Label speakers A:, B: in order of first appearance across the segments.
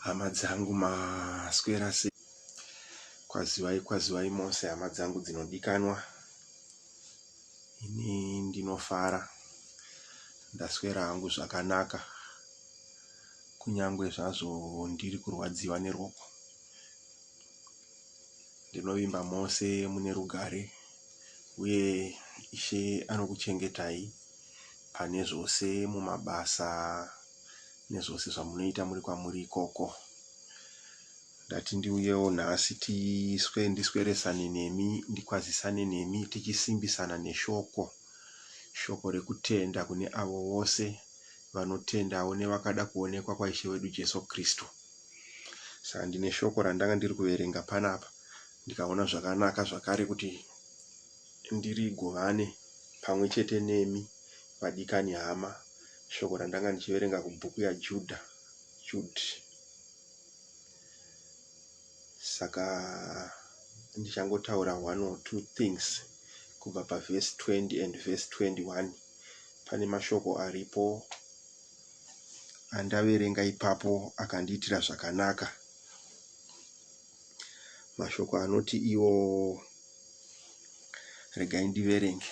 A: Hama dzangu maswera sei kwazivai kwazivai mose hama dzangu dzinodikanwa ini ndinofara ndaswera hangu zvakanaka kunyangwe zvazvo ndiri kurwadziwa nerwoko ndinovimba mose mune rugare uye ishe anokuchengetai pane zvose mumabasa nezvose zvamunoita muri kwamuri ikoko. Ndati ndiuyewo nhasi tiswe ndisweresane nemi ndikwazisane nemi tichisimbisana neshoko shoko rekutenda kune avo vose vanotendawo nevakada kuonekwa kwaishe wedu Jesu Kristu. Saka ndine shoko randanga ndiri kuverenga panapa ndikaona zvakanaka zvakare kuti ndirigovane pamwe chete nemi vadikani hama Shoko randanga ndichiverenga kubhuku yaJudha, Jud. Saka ndichangotaura one or two things kubva pavhesi 20 and vhesi 21 pane mashoko aripo andaverenga ipapo akandiitira zvakanaka mashoko anoti iwo regai ndiverenge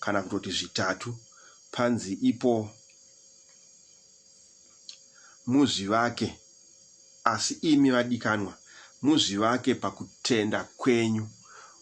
A: kana kutoti zvitatu panzi ipo muzvivake asi imi vadikanwa muzvivake pakutenda kwenyu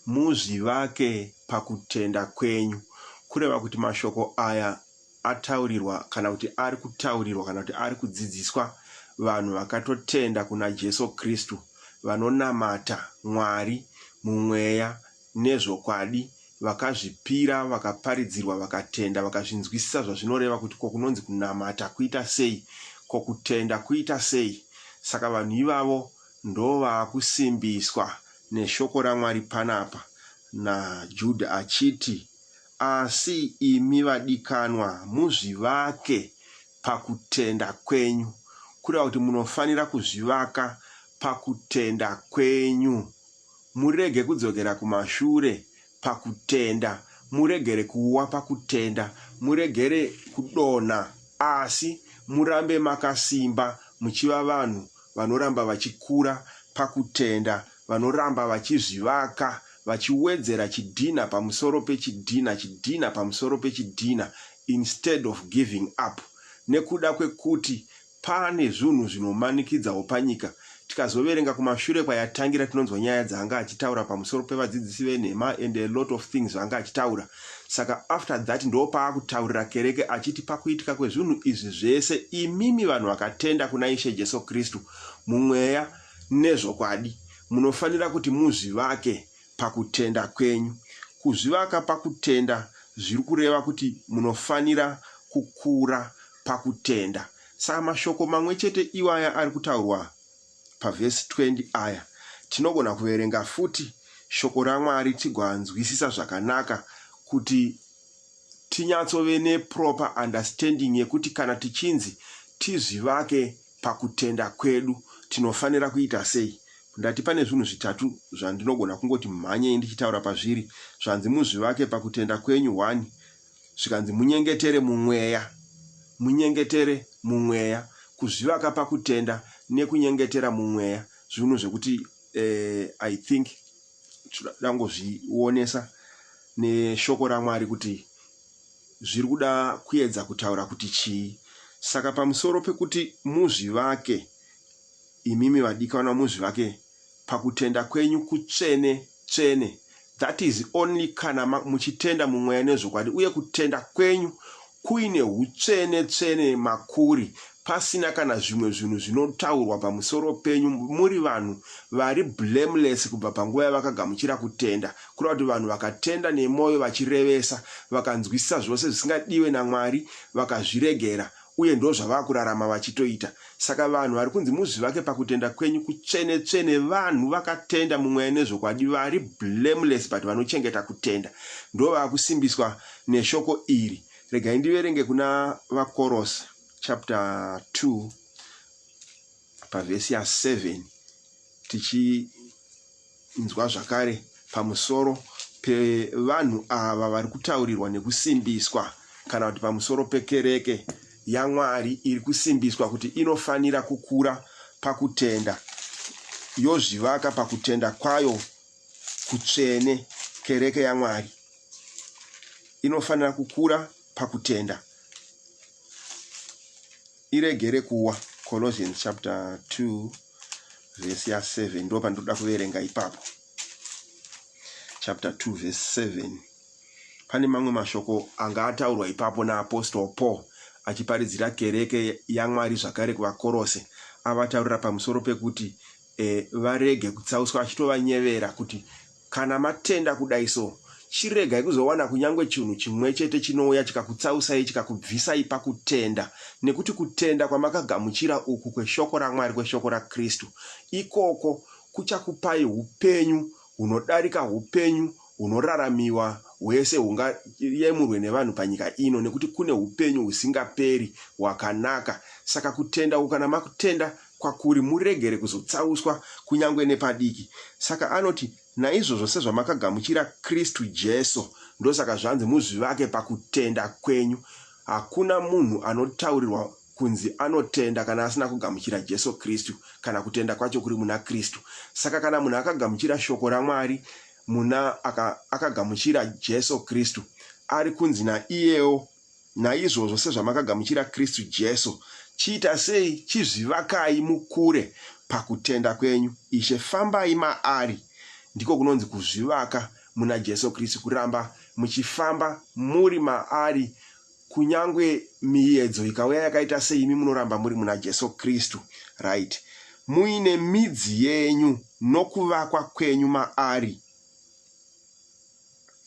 A: muzvivake pakutenda kwenyu kureva kuti mashoko aya ataurirwa kana kuti ari kutaurirwa kana kuti ari kudzidziswa vanhu vakatotenda kuna Jesu Kristu vanonamata Mwari mumweya nezvokwadi, vakazvipira, vakaparidzirwa, vakatenda, vakazvinzwisisa zvazvinoreva kuti ko kunonzi kunamata kuita sei, ko kutenda kuita sei. Saka vanhu ivavo ndovaakusimbiswa neshoko raMwari panapa naJuda achiti, Asi imi vadikanwa, muzvivake pakutenda kwenyu, kureva kuti munofanira kuzvivaka pakutenda kwenyu. Murege kudzokera kumashure pakutenda. Muregere kuwa pakutenda. Muregere kudonha. Asi murambe makasimba muchiva vanhu vanoramba vachikura pakutenda, vanoramba vachizvivaka, vachiwedzera chidhinha pamusoro pechidhinha, chidhinha pamusoro pechidhinha, instead of giving up nekuda kwekuti Pane zvunhu zvinomanikidzawo panyika. Tikazoverenga kumashure kwayatangira tinonzwa nyaya dzaanga achitaura pamusoro pevadzidzisi venhema and a lot of things zvaanga achitaura. Saka after that ndopaakutaurira kereke achiti pakuitika kwezvunhu izvi zvese imimi vanhu vakatenda kuna Ishe Jesu Kristu mumweya nezvokwadi munofanira kuti muzvivake pakutenda kwenyu. Kuzvivaka pakutenda zviri kureva kuti munofanira kukura pakutenda. Saka mashoko mamwe chete iwaya ari kutaurwa pavhesi 20 aya, tinogona kuverenga futi Shoko raMwari tigoanzwisisa zvakanaka kuti tinyatsove neproper understanding yekuti kana tichinzi tizvivake pakutenda kwedu tinofanira kuita sei? Ndati pane zvinhu zvitatu zvandinogona kungoti mhanyei ndichitaura pazviri. Zvanzi muzvivake pakutenda kwenyu hwani, zvikanzi munyengetere mumweya. Munyengetere mumweya. Kuzvivaka pakutenda nekunyengetera mumweya zvinhu zvekuti uh, I think tangozvionesa neshoko raMwari kuti zviri kuda kuedza kutaura kuti chii. Saka pamusoro pekuti muzvivake, imimi vadikanwa muzvivake pakutenda kwenyu kutsvene tsvene, that is only kana muchitenda mumweya nezvokwadi uye kutenda kwenyu kuine hutsvene tsvene makuri pasina kana zvimwe zvinhu zvinotaurwa pamusoro penyu muri vanhu vari blameless kubva panguva yavakagamuchira kutenda Kureva kuti vanhu vakatenda nemoyo vachirevesa, vakanzwisisa zvose zvisingadiwe naMwari, vakazviregera, uye ndozvavava kurarama vachitoita. Saka vanhu vari kunzi muzvivake pakutenda kwenyu kutsvene tsvene, vanhu vakatenda mumweya nezvokwadi, vari blameless but vanochengeta kutenda, ndovava kusimbiswa neshoko iri. Regai ndiverenge kuna vaKorose chapter 2. pavhesi ya 7 tichinzwa zvakare pamusoro pevanhu ava vari kutaurirwa nekusimbiswa kana kuti pamusoro pekereke yamwari iri kusimbiswa kuti inofanira kukura pakutenda yozvivaka pakutenda kwayo kutsvene kereke yamwari inofanira kukura pakutenda iregere kuwa colossians chapter 2 vhesi ya 7 ndo pandinoda kuverenga ipapo chapter 2 vhesi 7 pane mamwe mashoko anga ataurwa ipapo naapostle paul achiparidzira kereke yamwari zvakare kuvakorose avataurira pamusoro pekuti e, varege kutsauswa achitovanyevera kuti Kana matenda kudai so, chiregai kuzowana kunyange chinhu chimwechete chinouya chikakutsausai chikakubvisai pakutenda, nekuti kutenda kwamakagamuchira uku kweShoko raMwari, kweShoko raKristu, ikoko kuchakupai hupenyu hunodarika hupenyu hunoraramiwa hwese hungayemurwe nevanhu panyika ino, nekuti kune hupenyu husingaperi hwakanaka. Saka kutenda uku kana makutenda, kwakuri muregere kuzotsauswa kunyange nepadiki. Saka anoti, Naizvozvo sezvamakagamuchira Kristu Jesu, ndosaka zvanzi muzvivake pakutenda kwenyu. Hakuna munhu anotaurirwa kunzi anotenda kana asina kugamuchira Jesu Kristu, kana kutenda kwacho kuri muna Kristu. Saka kana munhu akagamuchira shoko raMwari, muna aka, akagamuchira Jesu Kristu, ari kunzi naiyewo Naizvozvo sezvamakagamuchira Kristu Jesu, chiita sei chizvivakai mukure pakutenda kwenyu. Ishe, fambai maari, ndiko kunonzi kuzvivaka muna Jesu Kristu, kuramba muchifamba muri maari kunyangwe miyedzo ikauya yakaita sei imi munoramba muri muna Jesu Kristu. Right. Muine midzi yenyu nokuvakwa kwenyu maari.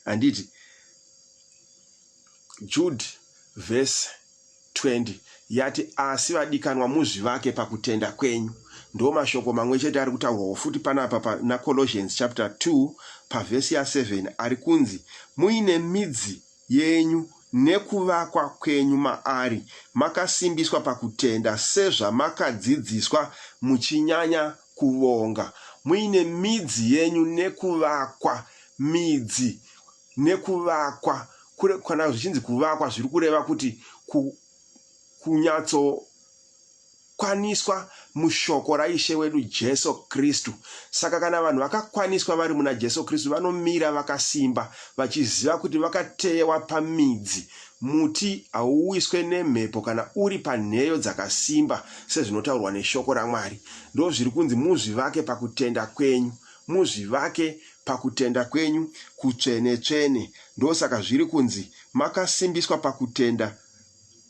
A: Handiti? Judhi vhesi 20 yati, Asi vadikanwa muzvivake pakutenda kwenyu. Ndiwo mashoko mamwe chete ari kutaurwawo futi panapa pana Colossians chapter 2 pavhesi ya 7 ari kunzi, Muine midzi yenyu nekuvakwa kwenyu maari, makasimbiswa pakutenda sezvamakadzidziswa, muchinyanya kuvonga. Muine midzi yenyu nekuvakwa, midzi. nekuvakwa kana zvichinzi kuvakwa zviri kureva kuti kunyatsokwaniswa mushoko raishe wedu jesu kristu saka kana vanhu vakakwaniswa vari muna jesu kristu vanomira vakasimba vachiziva kuti vakateyewa pamidzi muti hauwiswe nemhepo kana uri panheyo dzakasimba sezvinotaurwa neshoko ramwari ndo zviri kunzi muzvivake pakutenda kwenyu Muzvivake pakutenda kwenyu kutsvene-tsvene. Ndosaka zviri kunzi, Makasimbiswa pakutenda,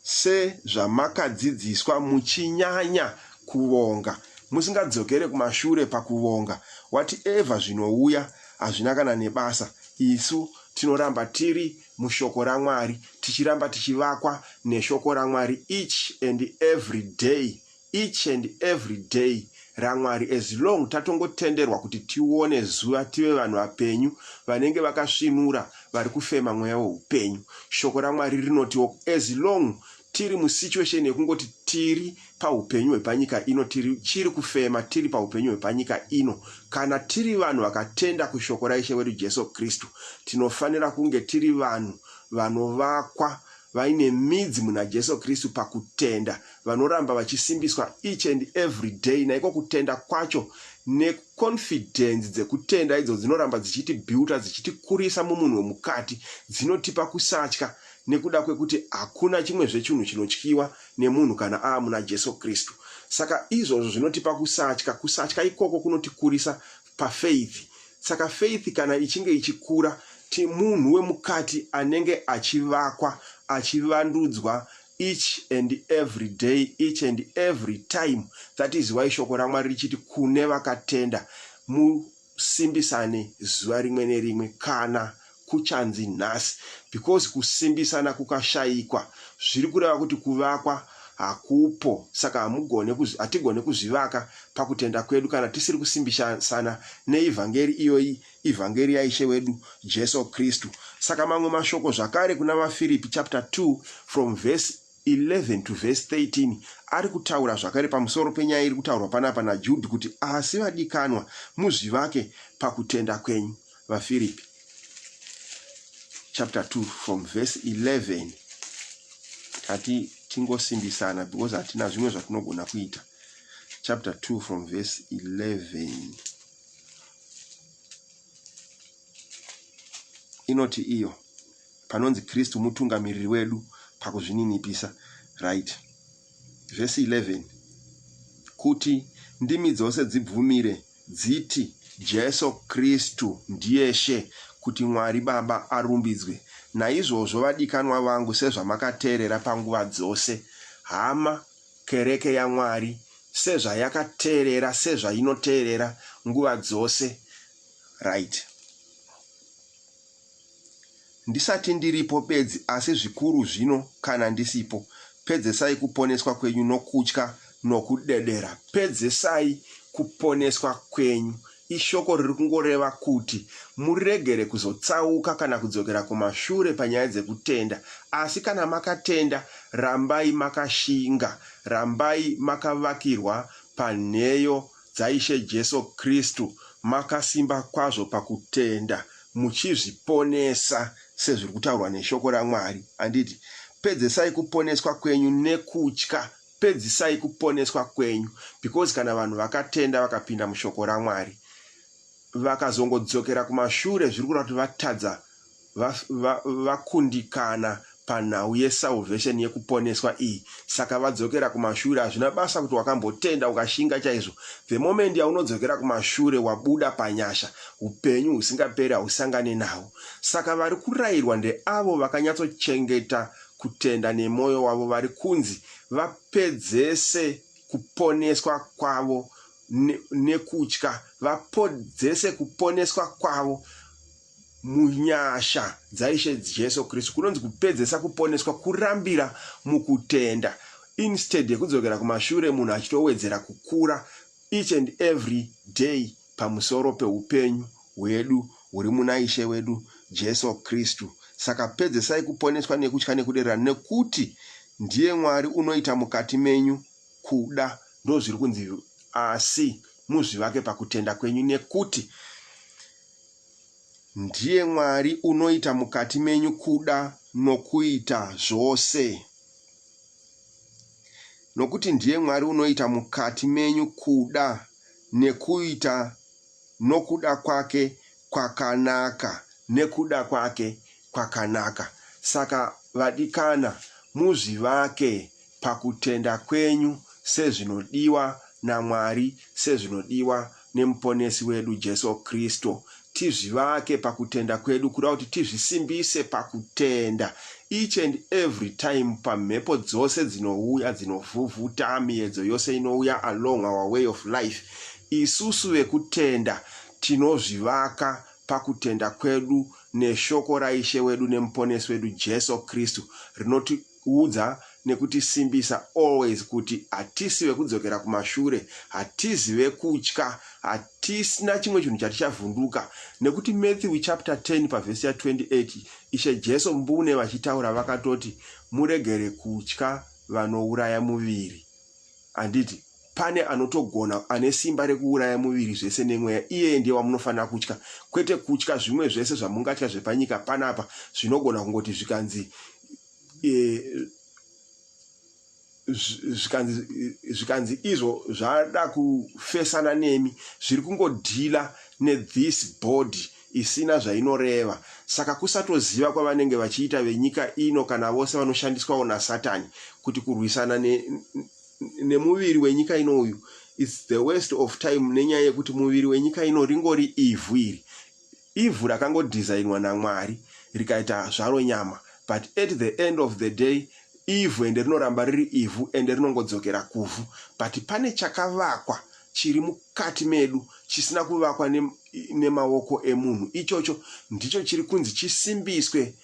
A: sezvamakadzidziswa, muchinyanya kuvonga. Musingadzokere kumashure pakuvonga. Whatever zvinouya, hazvina kana nebasa. Isu tinoramba tiri muShoko raMwari, tichiramba tichivakwa neShoko raMwari each and every day each and every day ramwari as long tatongotenderwa kuti tione zuva tive vanhu vapenyu vanenge vakasvinura vari kufema mweya weupenyu shoko ramwari rinotiwo as long tiri musituation yekungoti tiri paupenyu hwepanyika ino tiri chiri kufema tiri paupenyu hwepanyika ino kana tiri vanhu vakatenda kushoko raishe wedu jesu kristu tinofanira kunge tiri vanhu vanovakwa vaine midzi muna jesu kristu pakutenda vanoramba vachisimbiswa each and every day naiko kutenda kwacho neconfidence dzekutenda idzo dzinoramba dzichitibuilta dzichitikurisa mumunhu wemukati dzinotipa kusatya nekuda kwekuti hakuna chimwe zvechinhu chinotyiwa nemunhu kana aa muna jesu kristu saka izvozvo zvinotipa kusatya kusatya ikoko kunotikurisa pafaith saka faith kana ichinge ichikura ti munhu wemukati anenge achivakwa achivandudzwa Each and every day, each and every time. That is why shoko raMwari richiti kune vakatenda musimbisane zuva rimwe nerimwe kana kuchanzi nhasi because kusimbisana kukashaikwa zviri kureva kuti kuvakwa hakupo saka hamugone hatigone kuzvivaka pakutenda kwedu kana tisiri kusimbisana neivhangeri iyoyi Evhangeri yaIshe wedu Jesu Kristu. Saka mamwe mashoko zvakare kuna vaFiripi chapter 2 from verse 11 to verse 13 ari kutaura zvakare pamusoro penyaya iri kutaurwa panapa naJudhi kuti asi vadikanwa muzvivake pakutenda kwenyu. VaFiripi chapter 2 from verse 11 tati tingosimbisana because hatina zvimwe zvatinogona kuita chapter 2 from verse 11 inoti iyo panonzi kristu mutungamiriri wedu pakuzvininipisa right vhesi 11 kuti ndimi dzose dzibvumire dziti jesu kristu ndiye she kuti mwari baba arumbidzwe naizvozvo vadikanwa vangu sezvamakateerera panguva dzose hama Kereke yaMwari, sezvayakateerera, sezvainoteerera nguva dzose. Right. Ndisati ndiripo bedzi, asi zvikuru zvino kana ndisipo. Pedzesai kuponeswa kwenyu nokutya nokudedera. Pedzesai kuponeswa kwenyu Ishoko riri kungoreva kuti muregere kuzotsauka kana kudzokera kumashure panyaya dzekutenda. Asi kana makatenda, rambai makashinga. Rambai makavakirwa panheyo dzaIshe Jesu Kristu, makasimba kwazvo pakutenda, muchizviponesa sezviri kutaurwa neShoko raMwari. Handiti, Pedzesai kuponeswa kwenyu nekutya Pedzisai kuponeswa kwenyu because kana vanhu vakatenda vakapinda mushoko raMwari vakazongodzokera kumashure zviri kureva kuti vatadza va, va, vakundikana panhau yesalvation yekuponeswa iyi saka vadzokera kumashure hazvina basa kuti wakambotenda ukashinga chaizvo the moment yaunodzokera kumashure wabuda panyasha upenyu husingaperi hausangane nawo saka vari kurayirwa ndeavo vakanyatsochengeta kutenda nemoyo wavo vari kunzi vapedzese kuponeswa kwavo nekutya, vapodzese kuponeswa kwavo munyasha dzaIshe Jesu Kristu. Kunonzi kupedzesa kuponeswa kurambira mukutenda instead yekudzokera kumashure munhu achitowedzera kukura each and every day pamusoro peupenyu hwedu huri muna Ishe wedu Jesu Kristu. Saka pedzesai kuponeswa nekutya nekuderera nekuti ndiye Mwari unoita mukati menyu kuda, ndozviri kunzi, asi muzvivake pakutenda kwenyu nekuti ndiye Mwari unoita mukati menyu kuda nokuita zvose nokuti ndiye Mwari unoita mukati menyu kuda nekuita nokuda kwake kwakanaka nekuda kwake kwakanaka. Saka vadikana, muzvivake pakutenda kwenyu sezvinodiwa naMwari, sezvinodiwa neMuponesi wedu Jesu Kristu, tizvivake pakutenda kwedu kuda kuti tizvisimbise pakutenda each and every time pamhepo dzose dzinouya dzinovhuvhuta miyedzo yose inouya along our way of life isusu vekutenda tinozvivaka pakutenda kwedu neshoko raishe wedu nemuponesi wedu jesu kristu rinoti Kuudza nekutisimbisa always kuti hatisi vekudzokera kumashure, hatizi vekutya, hatisina chimwe chinhu chatichavhunduka nekuti Matthew chapter 10 pavhesi ya 28 Ishe Jesu mbune vachitaura vakatoti muregere kutya vanouraya muviri. handiti pane anotogona ane simba rekuuraya muviri zvese nemweya iyeye ndiye wamunofanira kutya kwete kutya zvimwe zvese zvamungatya zvepanyika panapa zvinogona kungoti zvikanzi e, zvikanzi izvo zvada kufesana nemi zviri kungodhila nethis body isina zvainoreva saka kusatoziva kwavanenge vachiita venyika ino kana vose vanoshandiswawo nasatani kuti kurwisana ne, nemuviri wenyika ino uyu its the waste of time nenyaya yekuti muviri wenyika ino ringori ivhu iri ivhu rakangodhizainwa namwari rikaita zvaro nyama but at the end of the day ivhu ende rinoramba riri ivhu ende rinongodzokera kuvhu but pane chakavakwa chiri mukati medu chisina kuvakwa nemaoko emunhu, ichocho ndicho chiri kunzi chisimbiswe,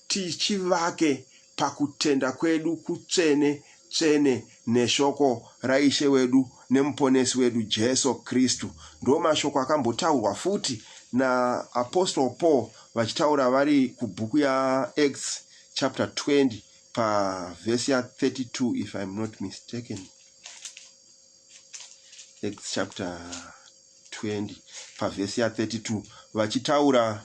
A: tichivake pakutenda kwedu kutsvene tsvene neshoko raIshe wedu neMuponesi wedu Jesu Kristu. Ndo mashoko akambotaurwa futi naApostle Paul vachitaura vari kubhuku yaActs chapter 20 pavhesi ya32 if I'm not mistaken. Acts chapter 20 pavhesi ya32 vachitaura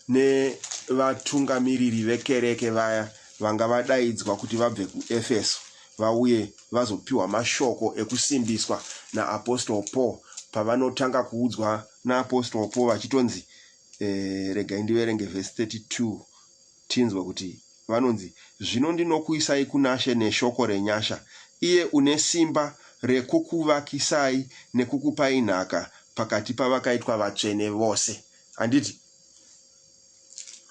A: nevatungamiriri vekereke vaya vanga vadaidzwa kuti vabve kuefeso vauye vazopiwa mashoko ekusimbiswa naapostol paul pavanotanga kuudzwa naapostol paul vachitonzi eh, regai ndiverenge vhesi 32 Tinzwe kuti vanonzi, Zvino ndinokuisai kunaShe neshoko renyasha, iye une simba rekukuvakisai nekukupai nhaka pakati pavakaitwa vatsvene vose. Handiti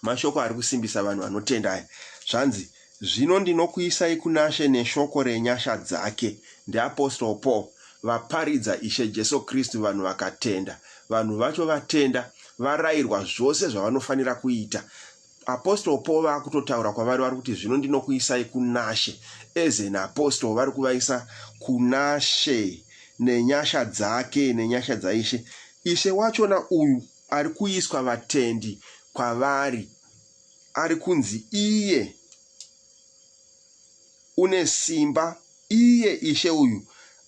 A: mashoko ari kusimbisa vanhu vanotenda aya? Zvanzi, Zvino ndinokuisai kunaShe neshoko renyasha dzake. NdiApostle Paul, vaparidza Ishe Jesu Kristu, vanhu vakatenda. Vanhu vacho vatenda, varayirwa zvose zvavanofanira kuita apostle paul vakutotaura kwavari vari kuti zvino ndinokuisai kunashe as an apostle vari kuvaisa kunashe nenyasha dzake nenyasha dzaishe ishe wachona uyu ari kuiswa vatendi kwavari ari kunzi iye une simba, iye Ishe uyu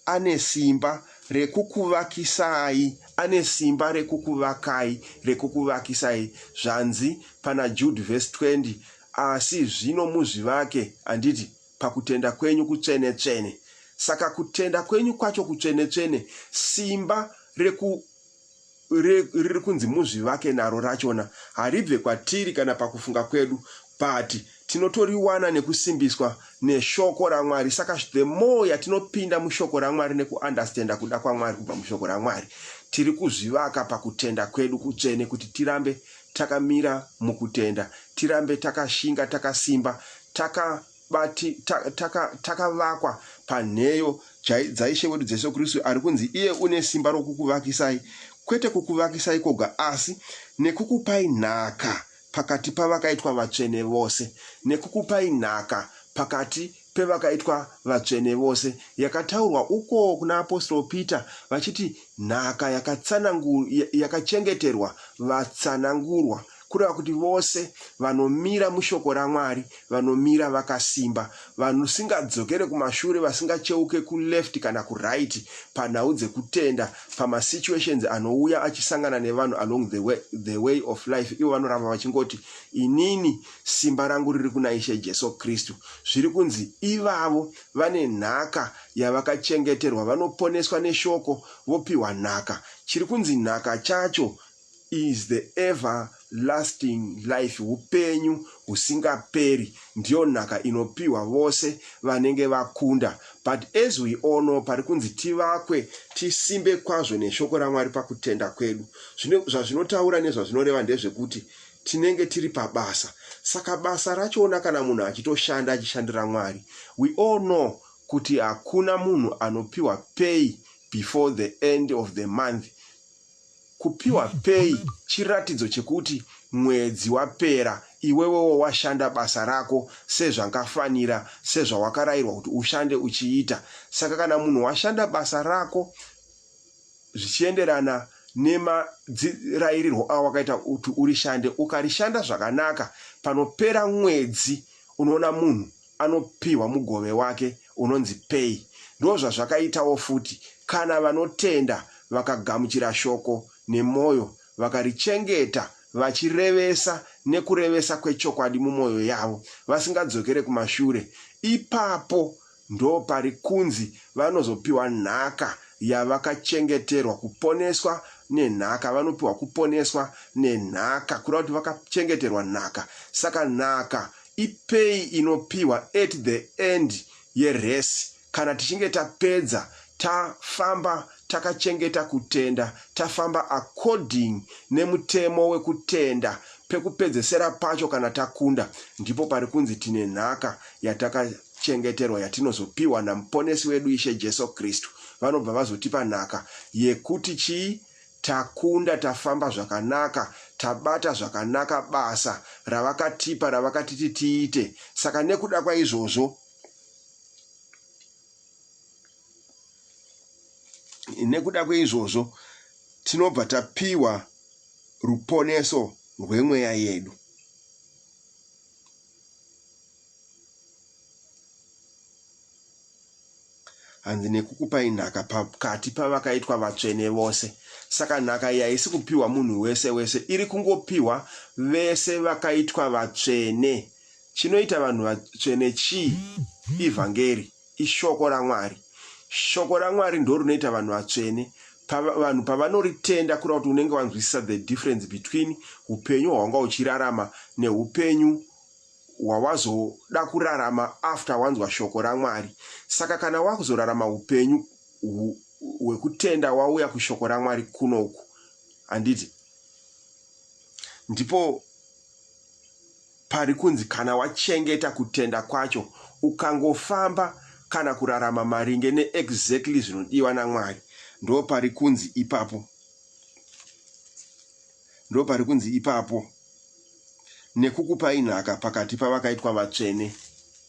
A: ane simba rekukuvakisai, ane simba rekukuvakai, rekukuvakisai. Zvanzi pana Jude vhesi 20, Asi zvino muzvivake, handiti, pakutenda kwenyu kutsvene-tsvene. Saka kutenda kwenyu kwacho kutsvene-tsvene, simba reku riri kunzi muzvivake naro rachona haribve kwatiri kana pakufunga kwedu but tinotoriwana nekusimbiswa neshoko ramwari saka the more yatinopinda mushoko ramwari nekuunderstanda kuda kwamwari kubva mushoko ramwari tiri kuzvivaka pakutenda kwedu kutsvene kuti tirambe takamira mukutenda tirambe takashinga takasimba taka But takavakwa taka panheyo dzaIshe wedu Jesu Kristu ari kunzi iye une simba rokukuvakisai, kwete kukuvakisai koga asi nekukupai nhaka pakati pavakaitwa vatsvene vose, nekukupai nhaka pakati pevakaitwa vatsvene vose yakataurwa uko kuna apostolo Peter vachiti nhaka yakachengeterwa vatsanangurwa kureva kuti vose vanomira mushoko raMwari vanomira vakasimba, vanusingadzokere kumashure, vasingacheuke kuleft kana kuright panhau dzekutenda, pamasituations anouya achisangana nevanhu along the way, the way of life, ivo vanoramba vachingoti inini simba rangu riri kuna Ishe Jesu Kristu. Zviri kunzi ivavo vane nhaka yavakachengeterwa, vanoponeswa neshoko vopiwa nhaka. Chiri kunzi nhaka chacho is the ever lasting life upenyu husingaperi ndiyo nhaka inopiwa vose vanenge vakunda but as we all know pari kunzi tivakwe tisimbe kwazvo neshoko ramwari pakutenda kwedu zvine zvazvinotaura nezvazvinoreva ndezvekuti tinenge tiri pabasa saka basa rachona kana munhu achitoshanda achishandira mwari we all know kuti hakuna munhu anopiwa pay before the end of the month Kupiwa pay chiratidzo chekuti mwedzi wapera iwewewo washanda basa rako sezvangafanira sezvawakarairwa kuti ushande uchiita. Saka kana munhu washanda basa rako zvichienderana nemadzirairirwo awakaita kuti urishande ukarishanda zvakanaka panopera mwedzi unoona munhu anopihwa mugove wake unonzi pay. Ndozvazvakaitawo futi kana vanotenda vakagamuchira shoko nemoyo vakarichengeta vachirevesa nekurevesa kwechokwadi mumoyo yavo vasingadzokere kumashure ipapo ndoparikunzi vanozopiwa nhaka yavakachengeterwa kuponeswa nenhaka vanopiwa kuponeswa nenhaka kureva kuti vakachengeterwa nhaka saka nhaka ipay inopihwa at the end yerace kana tichinge tapedza tafamba takachengeta kutenda tafamba according nemutemo wekutenda pekupedzesera pacho kana takunda ndipo pari kunzi tine nhaka yatakachengeterwa yatinozopiwa namuponesi wedu ishe jesu kristu vanobva vazotipa nhaka yekuti chii Takunda tafamba zvakanaka tabata zvakanaka basa ravakatipa ravakatiti tiite saka nekuda kwaizvozvo nekuda kweizvozvo tinobva tapiwa ruponeso rwemweya yedu. hanzi nekukupai nhaka pakati pavakaitwa vatsvene vose saka nhaka iyi haisi kupiwa munhu wese wese iri kungopiwa vese vakaitwa vatsvene chinoita vanhu vatsvene chii ivhangeri ishoko ramwari shoko ramwari ndo rinoita vanhu vatsvene vanhu pavanoritenda kura kuti unenge wanzwisisa the difference between upenyu hwanga uchirarama neupenyu wawazoda kurarama after wanzwa shoko raMwari. Saka kana wakuzorarama hupenyu hwekutenda wauya kushoko raMwari kuno uku, handiti ndipo pari kunzi kana wachengeta kutenda kwacho ukangofamba kana kurarama maringe neexactly zvinodiwa namwari ndo pari kunzi ipapo ndopari kunzi ipapo, nekukupai nhaka pakati pavakaitwa vatsvene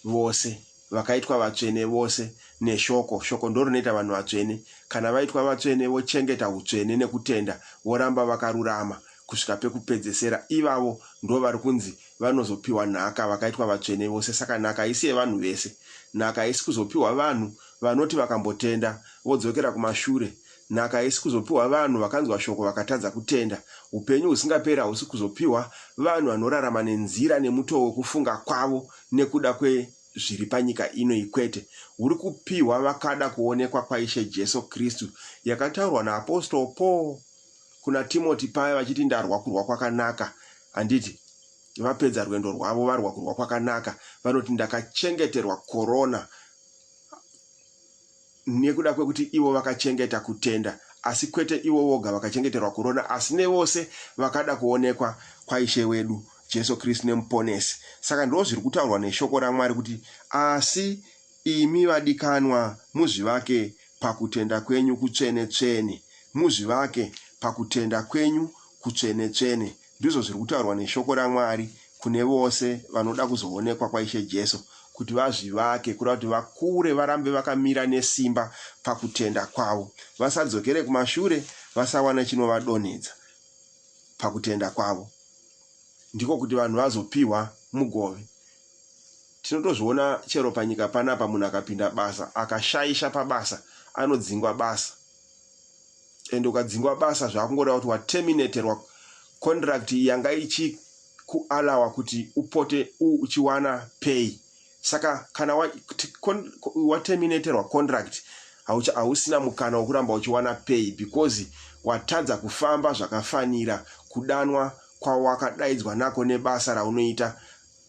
A: vose, vakaitwa vatsvene vose neshoko, shoko ndorinoita vanhu vatsvene, kana vaitwa vatsvene vochengeta hutsvene nekutenda, voramba vakarurama kusvika pekupedzesera, ivavo ndovari kunzi vanozopiwa nhaka, vakaitwa vatsvene vose, saka nhaka haisi yevanhu vese, nhaka haisi kuzopiwa vanhu vanoti vakambotenda vodzokera kumashure Nhaka haisi kuzopiwa vanhu vakanzwa shoko vakatadza kutenda. Upenyu husingaperi hausi kuzopiwa vanhu vanorarama nenzira nemutoo wekufunga kwavo nekuda kwezviri panyika ino iyi kwete. Huri kupiwa vakada kuonekwa kwaIshe Jesu Kristu, yakataurwa naApostle Paul kuna Timoti paya vachiti ndarwa kurwa kwakanaka, handiti? Vapedza rwendo rwavo varwa kurwa kwakanaka, vanoti ndakachengeterwa korona. nekuda kwekuti ivo vakachengeta kutenda, asi kwete ivo voga vakachengeterwa kurona, asi nevose vakada kuonekwa kwaIshe wedu Jesu Kristu neMuponesi. Saka ndizvo zviri kutaurwa neshoko raMwari kuti, Asi imi vadikanwa, muzvivake pakutenda kwenyu kutsvene-tsvene, muzvivake pakutenda kwenyu kutsvene-tsvene. Ndizvo zviri kutaurwa neshoko raMwari kune vose vanoda kuzoonekwa kwaIshe Jesu, kuti vazvivake, kureva kuti vakure, varambe vakamira nesimba pakutenda kwavo, vasadzokere kumashure, vasawana chinovadonhedza pakutenda kwavo, ndiko kuti vanhu vazopihwa mugove. Tinotozviona chero panyika panapa, munhu akapinda basa, akashaisha pabasa, anodzingwa basa. and ukadzingwa basa zvakungoda kuti waterminaterwa contract yanga ichikualawa kuti upote uchiwana pay saka kana waterminaterwa contract hausina mukana wekuramba uchiwana pay because watadza kufamba zvakafanira kudanwa kwawakadaidzwa nako nebasa raunoita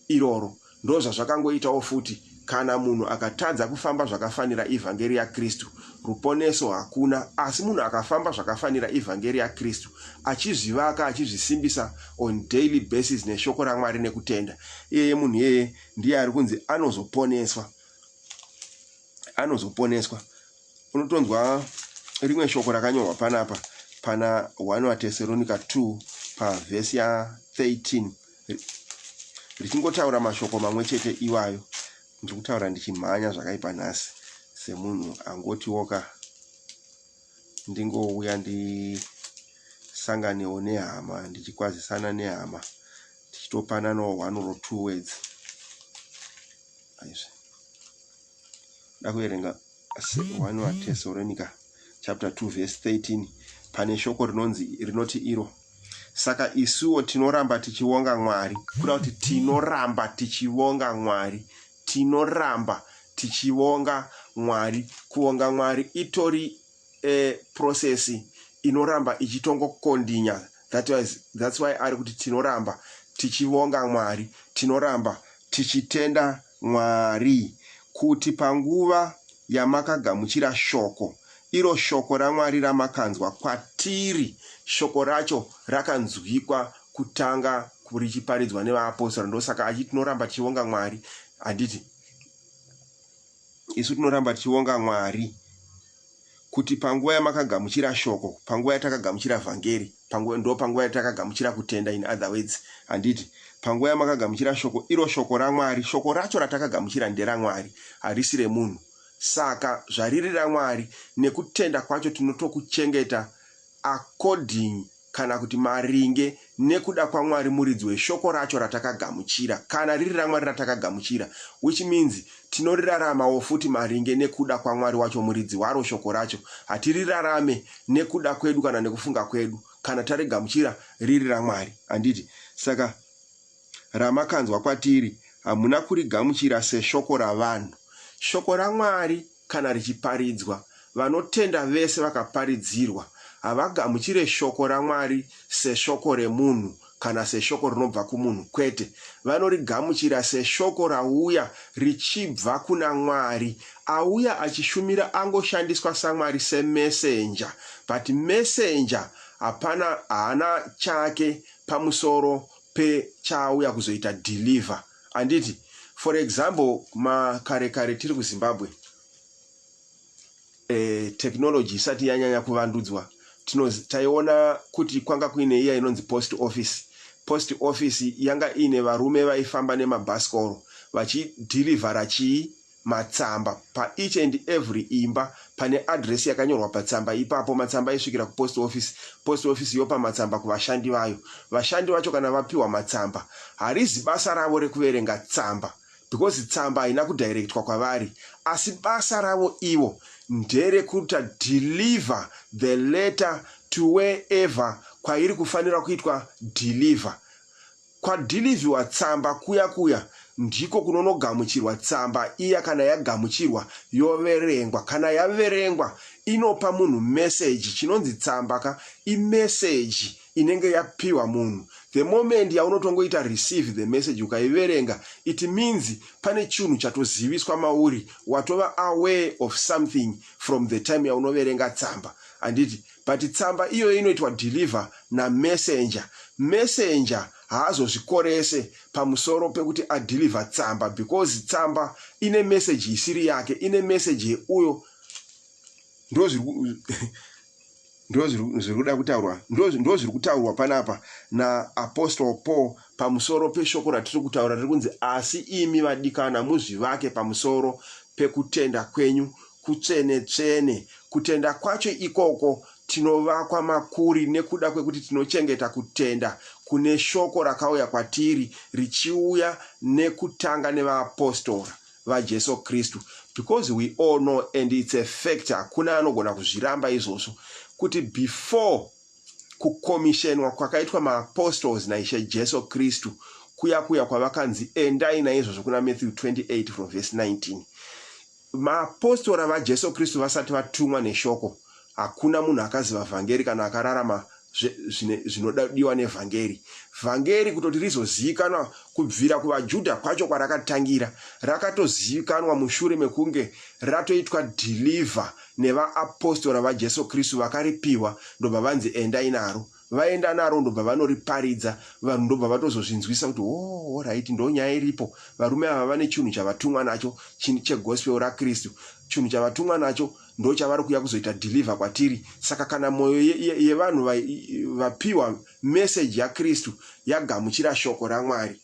A: iroro. Ndozvazvakangoitawo futi kana munhu akatadza kufamba zvakafanira ivhangeri yaKristu, ruponeso hakuna. Asi munhu akafamba zvakafanira ivhangeri yaKristu, achizvivaka, achizvisimbisa on daily basis neshoko raMwari nekutenda, iyeye munhu iyeye ndiye ari kunzi anozoponeswa. Anozoponeswa. Unotonzwa rimwe shoko rakanyorwa panapa pana 1 vaTeseronika 2 pavhesi ya 13. richingotaura mashoko mamwe chete iwayo ndiri kutaura ndichimhanya zvakaipa nhasi semunhu angotiwo ka ndingouya ndisanganewo nehama ndichikwazisana nehama tichitopananawo one or two words aizvi da kuverenga one watesorenika chapter 2 verse 13 pane shoko rinonzi rinoti iro Saka isuwo tinoramba tichivonga Mwari. Kuda kuti tinoramba tichivonga Mwari. Tinoramba tichivonga Mwari. Kuvonga Mwari itori e process inoramba ichitongo kondinya. That was, that's why ari kuti tinoramba tichivonga Mwari. Tinoramba tichitenda Mwari, kuti panguva yamakagamuchira Shoko, iro Shoko raMwari ramakanzwa kwatiri, Shoko racho rakanzwikwa kutanga richiparidzwa nevaapostora. Ndosaka achiti tinoramba tichivonga Mwari, handiti? Isu tinoramba tichivonga Mwari kuti panguva yamakagamuchira Shoko, panguva yatakagamuchira Vhangeri, panguva, ndo panguva yatakagamuchira kutenda, in other words, handiti? Panguva yamakagamuchira Shoko, iro Shoko raMwari, Shoko racho ratakagamuchira nderaMwari, harisi remunhu. Saka zvariri raMwari, nekutenda kwacho tinotokuchengeta according kana kuti maringe nekuda kwaMwari muridzi weShoko racho ratakagamuchira, kana riri raMwari ratakagamuchira, which means Tinoriraramawo futi maringe nekuda kwaMwari wacho Muridzi waro Shoko racho. Hatirirarame nekuda kwedu kana nekufunga kwedu, kana tarigamuchira riri raMwari. Handiti? Saka ramakanzwa kwatiri, hamuna kurigamuchira seshoko ravanhu. Shoko raMwari kana richiparidzwa, vanotenda vese vakaparidzirwa, havagamuchire shoko raMwari seshoko remunhu kana seshoko rinobva kumunhu, kwete, vanorigamuchira seshoko rauya richibva kuna Mwari. Auya achishumira angoshandiswa saMwari semesenja but mesenja hapana haana chake pamusoro pechaauya kuzoita deliver handiti? For example makare kare tiri kuZimbabwe, eh, technology isati yanyanya kuvandudzwa taiona kuti kwanga kuine iya inonzi post office post office yanga iine varume vaifamba nemabhasikoro vachidhirivhara chii matsamba paeach and every imba pane adress yakanyorwa patsamba ipapo matsamba aisvikira kupost office post office yopa matsamba kuvashandi vayo vashandi vacho kana vapiwa matsamba harizi basa ravo rekuverenga tsamba because tsamba haina kudirectwa kwavari asi basa ravo ivo ndere kuta deliver the letter to wherever kwairi kufanira kuitwa deliver kwadeliviwa tsamba kuya kuya ndiko kunonogamuchirwa tsamba iya kana yagamuchirwa yoverengwa kana yaverengwa inopa munhu meseji chinonzi tsamba ka imeseji inenge yapiwa munhu the moment yaunotongoita receive the message ukaiverenga it means pane chinhu chatoziviswa mauri watova aware of something from the time yaunoverenga tsamba handiti but tsamba iyoyo inoitwa deliver namessenger messenger haazozvikorese pamusoro pekuti adeliver tsamba because tsamba ine message isiri yake ine message yeuyo ndozviri Ndozvirikuda kutaurwa ndozviri kutaurwa panapa naApostle Paul pamusoro peshoko ratiri kutaura riri kunzi asi imi vadikana muzvivake pamusoro pekutenda kwenyu kutsvene tsvene. Kutenda kwacho ikoko tinovakwa makuri nekuda kwekuti tinochengeta kutenda kune shoko rakauya kwatiri richiuya nekutanga nevaapostora. vaJesu Kristu because we all know and it's a fact hakuna anogona kuzviramba izvozvo kuti before kukomishenwa kwakaitwa maapostles naishe Jesu Kristu kuya kuya kwavakanzi endai naizvozvo kuna Matthew 28 from verse 19 maapostora vaJesu Kristu vasati vatumwa neshoko Hakuna munhu akaziva vhangeri kana akararama zvinodiwa nevhangeri. Vhangeri kutoti rizozivikanwa kubvira kuvaJudha kwacho kwarakatangira, rakatozivikanwa mushure mekunge ratoitwa deliver nevaapostora vaJesu Kristu vakaripiwa ndobva vanzi endai naro. Vaenda naro ndobva vanoriparidza vanhu ndobva vatozozvinzwisa kuti oh, horaiti ndo nyaya iripo. Varume ava vane chinhu chavatumwa nacho chegospel raKristu, chinhu chavatumwa nacho ndochavari kuuya kuzoita deliver kwatiri saka kana mwoyo yevanhu ye, ye vapiwa message yakristu yagamuchira shoko ramwari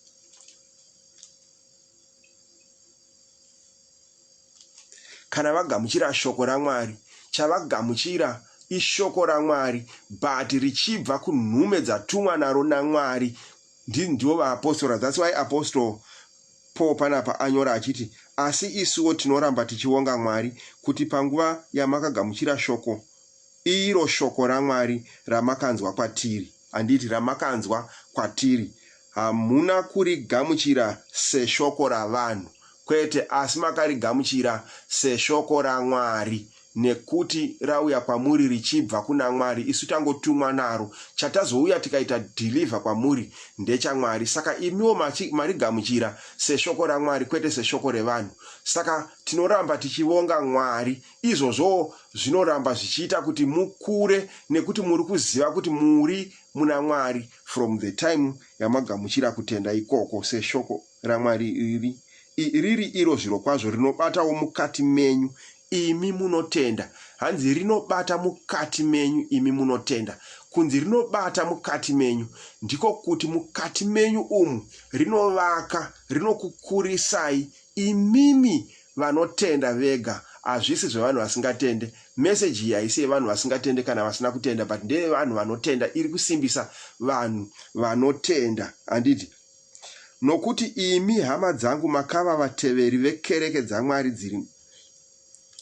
A: kana vagamuchira shoko ramwari chavagamuchira ishoko ramwari but richibva kunhume dzatumwa naro namwari ndivo vaapostora that's why apostle Paul panapa anyora achiti, Asi isuwo tinoramba tichivonga Mwari kuti panguva yamakagamuchira shoko, iro shoko raMwari ramakanzwa kwatiri, handiti ramakanzwa kwatiri, hamuna kurigamuchira seshoko ravanhu, kwete, asi makarigamuchira seshoko raMwari, nekuti rauya kwamuri richibva kuna Mwari isu tangotumwa naro, chatazouya tikaita deliver kwamuri ndecha Mwari saka imiwo marigamuchira seshoko raMwari kwete seshoko revanhu saka tinoramba tichivonga Mwari izvozvowo zvinoramba zvichiita kuti mukure nekuti muri kuziva kuti muri muna Mwari from the time yamagamuchira kutenda ikoko seshoko raMwari iri, i, riri iro zvirokwazvo rinobatawo mukati menyu imi munotenda. Hanzi rinobata mukati menyu imi munotenda. Kunzi rinobata mukati menyu, ndiko kuti mukati menyu umu rinovaka, rinokukurisai imimi vanotenda vega hazvisi zvevanhu vasingatende message iyi haisi yevanhu vasingatende kana vasina kutenda but ndeyevanhu vanotenda iri kusimbisa vanhu vanotenda handiti Nokuti imi hama dzangu makava vateveri vekereke dzaMwari dziri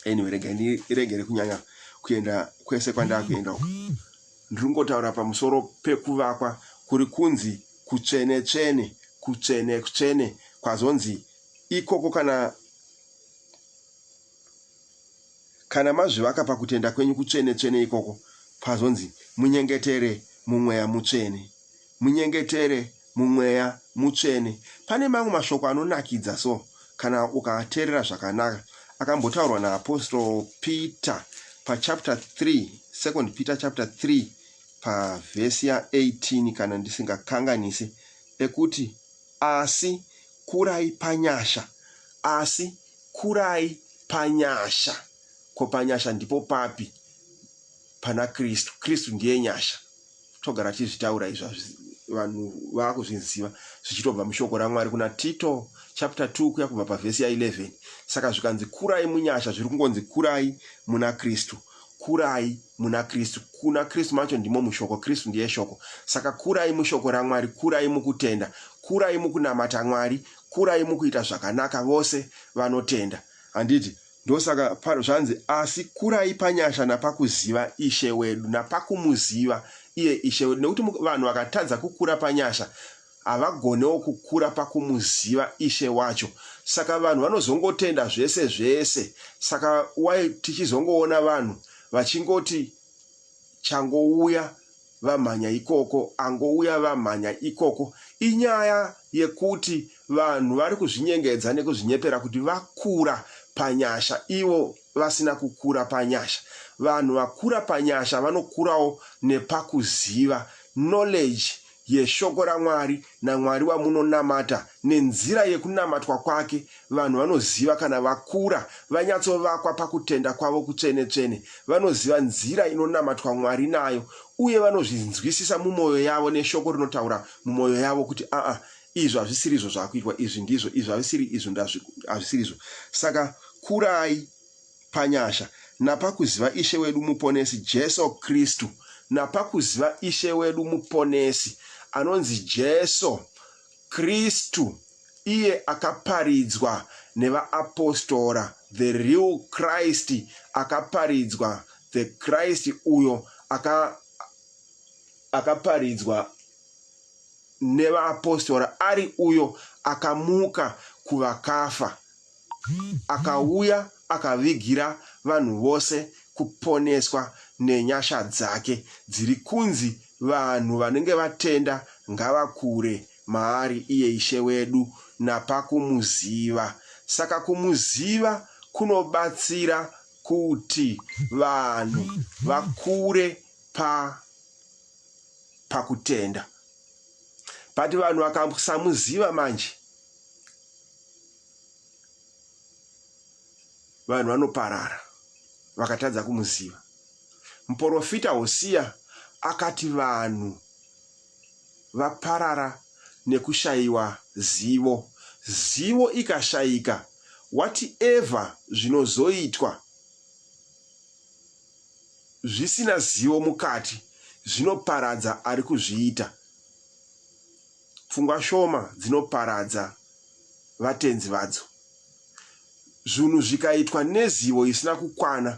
A: anyway rega ndiregere kunyanya kuenda kwese kwandakuenda uku ndiri kungotaura pamusoro pekuvakwa kuri kunzi kutsvene tsvene kutsvene kutsvene kwazonzi ikoko kana Kana mazvivaka pakutenda kwenyu kutsvene-tsvene ikoko, pazonzi, Munyengetere muMweya Mutsvene. Munyengetere muMweya Mutsvene. Pane mamwe mashoko anonakidza so, kana ukaateerera zvakanaka, akambotaurwa naApostle Peter pachapter 3, Second Peter chapter 3, pavhesi ya 18, kana ndisingakanganisi, ekuti, Asi kurai panyasha, asi Kurai panyasha. Ko panyasha ndipo papi? Pana Kristu. Kristu ndiye nyasha. Togara tichizvitaura izvi hazvi vanhu vakuzviziva zvichitobva mushoko raMwari kuna Tito chapter 2 kuya kubva pavhesi ya 11 saka zvikanzi kurai munyasha zviri kungonzi kurai muna Kristu kurai muna Kristu kuna Kristu macho ndimo mushoko Kristu ndiye shoko saka kurai mushoko raMwari kurai mukutenda kurai mukunamata Mwari kurai mukuita zvakanaka vose vanotenda handiti ndosaka pano zvanzi asi kurai panyasha napakuziva ishe wedu napakumuziva iye ishe wedu nekuti vanhu vakatadza kukura panyasha havagonewo kukura pakumuziva ishe wacho saka vanhu vanozongotenda zvese zvese saka wai tichizongoona vanhu vachingoti changouya vamhanya ikoko angouya vamhanya ikoko inyaya yekuti vanhu vari kuzvinyengedza nekuzvinyepera kuti vakura panyasha ivo vasina kukura panyasha vanhu vakura panyasha vanokurawo nepakuziva knowledge yeShoko raMwari naMwari wamunonamata nenzira yekunamatwa kwake, vanhu vanoziva kana vakura, vanyatsovakwa pakutenda kwavo kutsvene-tsvene, vanoziva nzira inonamatwa Mwari nayo, uye vanozvinzwisisa mumoyo yavo neShoko rinotaura mumoyo yavo kuti, Aa, izvo hazvisirizvo zvakuitwa, izvi ndizvo, izvi hazvisiri izvo, hazvisirizvo. Saka kurai. panyasha, napakuziva Ishe wedu Muponesi Jesu Kristu. Napakuziva Ishe wedu Muponesi, anonzi Jesu Kristu, iye akaparidzwa nevaapostora, the real Christ akaparidzwa, the Christ uyo aka akaparidzwa nevaapostora ari uyo akamuka kuvakafa Akauya akavigira vanhu vose kuponeswa nenyasha dzake dziri kunzi vanhu vanenge vatenda ngavakure maari iye Ishe wedu napakumuziva. Saka kumuziva kunobatsira kuti vanhu vakure pa pakutenda but vanhu vakasamuziva manje vanhu vanoparara vakatadza kumuziva. Muporofita Hosiya akati vanhu vaparara nekushayiwa zivo. Zivo ikashayika, whatever zvinozoitwa zvisina zivo mukati zvinoparadza ari kuzviita. Pfungwa shoma dzinoparadza vatenzi vadzo. Zvunhu zvikaitwa nezivo isina kukwana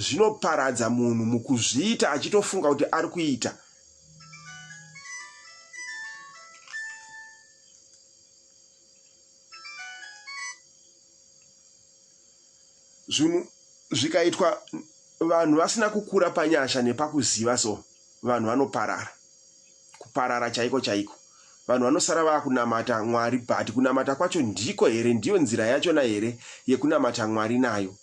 A: zvinoparadza munhu mukuzviita achitofunga kuti ari kuita. Zvinhu zvikaitwa vanhu vasina kukura panyasha nepakuziva so vanhu vanoparara. Kuparara chaiko chaiko. Vanhu vanosara vakunamata Mwari but kunamata kwacho ndiko here ndiyo nzira yachona here yekunamata Mwari nayo.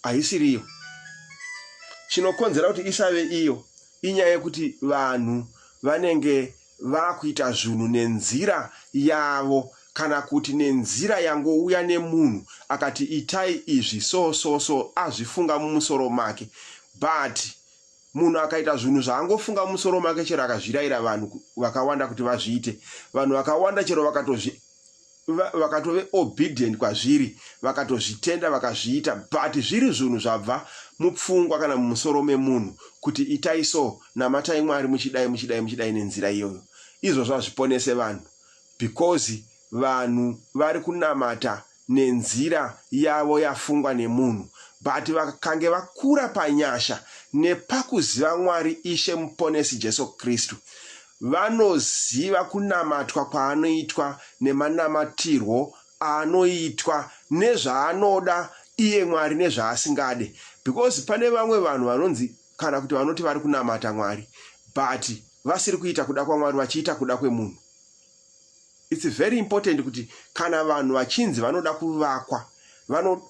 A: Haisiriyo. Chinokonzera kuti isave iyo inyaya yekuti vanhu vanenge vakuita zvunhu nenzira yavo kana kuti nenzira yangouya nemunhu akati itai izvi so so so azvifunga mumusoro make but munhu akaita zvunhu zvaangofunga mumusoro make chero akazviraira vanhu vakawanda kuti vazviite vanhu vakawanda chero vakatozvi vakatove obedient kwazviri vakatozvitenda vakazviita but zviri zvunhu zvabva mupfungwa kana mumusoro memunhu kuti itai so namatai mwari muchidai muchidai muchidai nenzira iyoyo izvozvo hazviponese vanhu because vanhu vari kunamata nenzira yavo yafungwa nemunhu but vakange vakura panyasha nepakuziva mwari ishe muponesi jesu kristu vanoziva kunamatwa kwaanoitwa nemanamatirwo aanoitwa nezvaanoda iye Mwari nezvaasingade because pane vamwe vanhu vanonzi kana kuti vanoti vari kunamata Mwari but vasiri kuita kuda kwaMwari vachiita kuda kwemunhu it's very important kuti kana vanhu vachinzi vanoda kuvakwa vano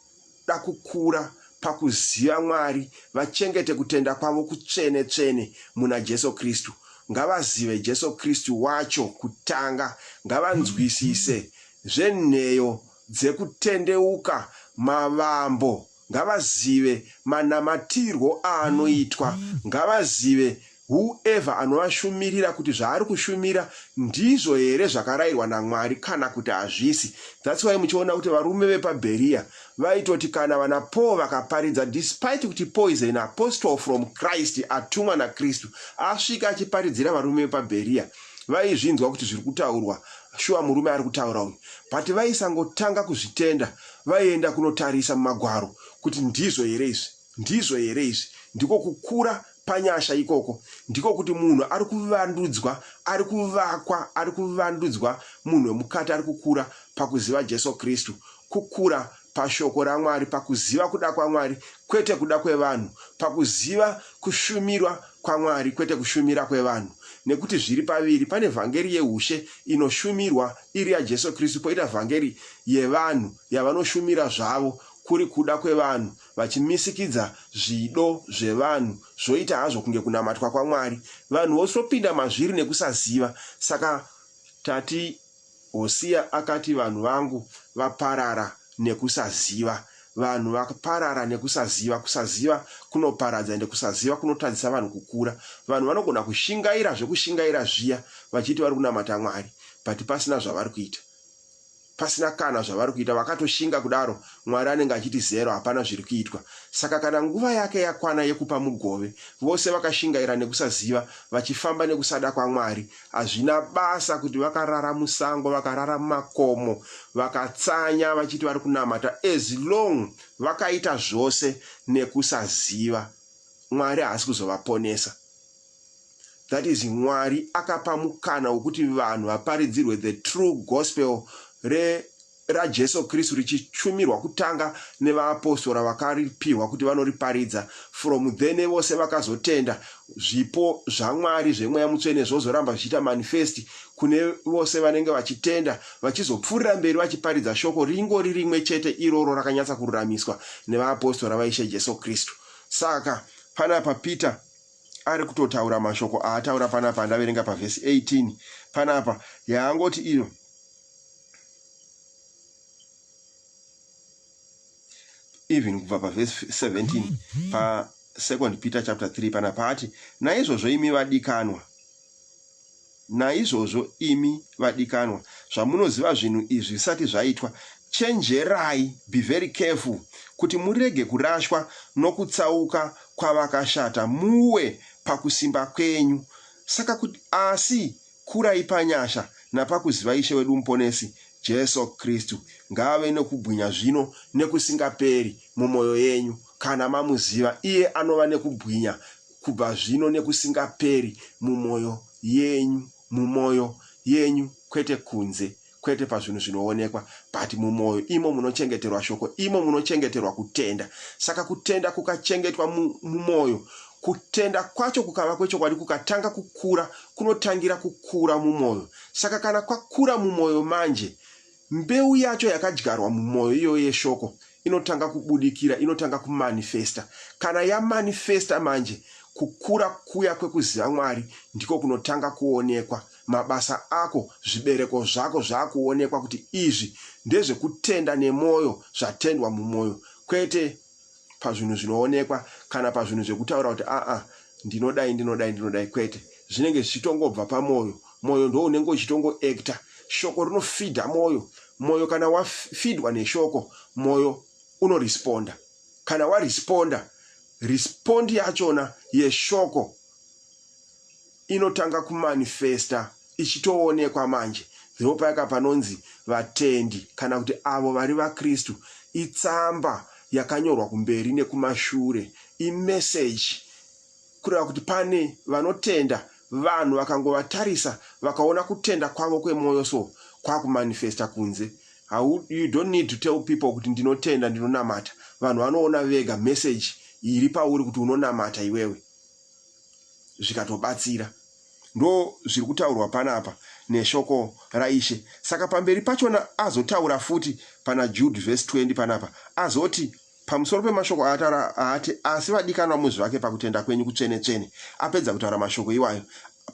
A: vanoda kukura pakuziva Mwari vachengete kutenda kwavo kutsvene tsvene muna Jesu Kristu. Ngavazive Jesu Kristu wacho kutanga. Ngavanzwisise zvenheyo dzekutendeuka mavambo. Ngavazive manamatirwo aanoitwa. Ngavazive Who ever anovashumirira kuti zvaari kushumira ndizvo here zvakarayirwa naMwari kana kuti hazvisi. That's why muchiona kuti varume vepa Berea vaitoti kana vana Paul vakaparidza despite kuti Paul is an apostle from Christ atumwa naKristu asvika achiparidzira varume vepa Berea vaizvinzwa kuti zviri kutaurwa shuwa murume ari kutaura uyu but vaisangotanga kuzvitenda vaienda kunotarisa mumagwaro kuti ndizvo here izvi. Ndizvo here izvi? Ndiko kukura panyasha ikoko, ndiko kuti munhu ari kuvandudzwa, ari kuvakwa, ari kuvandudzwa, munhu wemukati ari kukura pakuziva Jesu Kristu, kukura paShoko raMwari, pakuziva kuda kwaMwari, kwete kuda kwevanhu, pakuziva kushumirwa kwaMwari, kwete kushumira kwevanhu. Nekuti zviri paviri, pane vhangeri yeushe inoshumirwa, iri yaJesu Kristu, poita vhangeri yevanhu, yavanoshumira zvavo, kuri kuda kwevanhu, vachimisikidza zvido zvevanhu zvoita hazvo kunge kunamatwa kwaMwari. Vanhu vosopinda mazviri nekusaziva. Saka tati Hosiya akati vanhu vangu vaparara nekusaziva. Vanhu vaparara nekusaziva. Kusaziva kunoparadza ende kusaziva kunotadzisa vanhu kukura. Vanhu vanogona kushingaira zvekushingaira zviya vachiti vari kunamata Mwari but pasina zvavari kuita. pasina kana zvavari kuita vakatoshinga kudaro mwari anenge achiti zero hapana zviri kuitwa saka kana nguva yake yakwana yekupa mugove vose vakashingaira nekusaziva vachifamba nekusada kwamwari hazvina basa kuti vakarara musango vakarara mumakomo vakatsanya vachiti vari kunamata as long vakaita zvose nekusaziva mwari haasi kuzovaponesa That is Mwari akapa mukana wekuti vanhu vaparidzirwe the true gospel re raJesu Kristu richichumirwa kutanga nevaapostora vakaripihwa kuti vanoriparidza from then nevose vakazotenda zvipo zvaMwari zvemweya mutsvene zvozoramba zvichiita manifest kune vose vanenge vachitenda vachizopfuurira mberi vachiparidza shoko ringori rimwe chete iroro rakanyatsa kururamiswa nevaapostora vaIshe Jesu Kristu saka panapa Peter ari kutotaura mashoko aataura panapa andaverenga pavhesi 18 panapa yaangoti iyo even kubva pavhesi 17 pasecond peter chapter 3 panapa ati naizvozvo imi vadikanwa Naizvozvo imi vadikanwa, zvamunoziva zvinhu izvi zvisati zvaitwa, chenjerai, be very careful, kuti murege kurashwa nokutsauka kwavakashata, muwe pakusimba kwenyu. Saka kuti, asi kurai panyasha napakuziva Ishe wedu Muponesi, Jesu Kristu. Ngaave nokubwinya zvino nekusingaperi mumoyo yenyu, kana mamuziva, iye anova nekubwinya. kubva zvino nekusingaperi, mumoyo yenyu, mumoyo yenyu, kwete kunze, kwete pazvinhu zvinoonekwa, but mumoyo, imo munochengeterwa Shoko, imo munochengeterwa kutenda. Saka kutenda kukachengetwa mu, mumoyo, kutenda kwacho kukava kwechokwadi kukatanga kukura, kunotangira kukura mumoyo. Saka kana kwakura mumoyo manje, Mbeu yacho yakadyarwa mumwoyo iyoyo yeshoko inotanga kubudikira, inotanga kumanifesta. Kana yamanifesta manje, kukura kuya kwekuziva Mwari ndiko kunotanga kuonekwa. Mabasa ako, zvibereko zvako zvakuonekwa kuti izvi ndezvekutenda nemwoyo, zvatendwa mumwoyo, kwete pazvinhu zvinoonekwa kana pazvinhu zvekutaura kuti aa ndinodai ndinodai ndinodai kwete zvinenge zvichitongobva pamwoyo mwoyo ndo unenge uchitongo actor shoko rinofidha mwoyo mwoyo kana wafidwa neshoko mwoyo unoresponda kana waresponda respond yachona yeshoko inotanga kumanifesta ichitoonekwa manje ndipo payaka panonzi vatendi kana kuti avo vari vakristu itsamba yakanyorwa kumberi nekumashure imeseji kureva kuti pane vanotenda vanhu vakangovatarisa vakaona kutenda kwavo kwemwoyo so kwakumanifesta kunze How, you don't need to tell people kuti ndinotenda ndinonamata vanhu vanoona vega message iri pauri kuti unonamata iwewe zvikatobatsira. Ndo zviri kutaurwa panapa neshoko raIshe. Saka pamberi pachona azotaura futi pana Jude vhesi 20 panapa, azoti, Pamusoro pemashoko aataura aati, Asi vadikanwa muzvivake pakutenda kwenyu kutsvene-tsvene, apedza kutaura mashoko iwayo,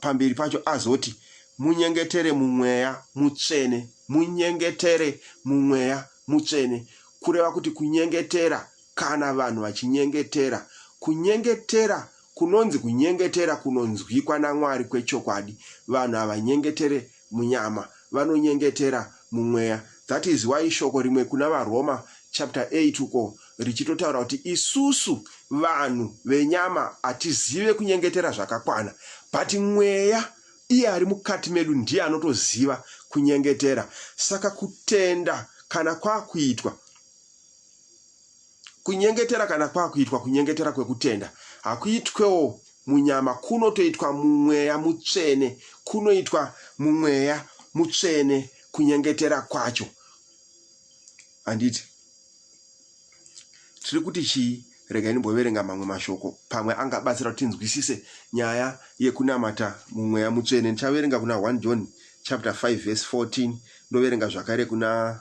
A: pamberi pacho azoti, Munyengetere mumweya mutsvene, munyengetere mumweya mutsvene, kureva kuti kunyengetera Kana vanhu vachinyengetera, kunyengetera kunonzi kunyengetera kunonzwikwa naMwari kwechokwadi. Vanhu havanyengetere munyama, vanonyengetera mumweya. That is why shoko rimwe kuna vaRoma chapter 8 uko richitotaura kuti isusu vanhu venyama hatizive kunyengetera zvakakwana but mweya iye ari mukati medu ndiye anotoziva kunyengetera. Saka kutenda kana kwakuitwa. kunyengetera kana kwakuitwa kunyengetera kwekutenda hakuitwewo munyama kunotoitwa mumweya mutsvene kunoitwa mumweya mutsvene kunyengetera kwacho handiti tiri kuti chii regai ndimboverenga mamwe mashoko pamwe angabatsira kuti tinzwisise nyaya yekunamata mumweya mutsvene ndichaverenga kuna 1 john chapter 5 verse 14 ndoverenga zvakare kuna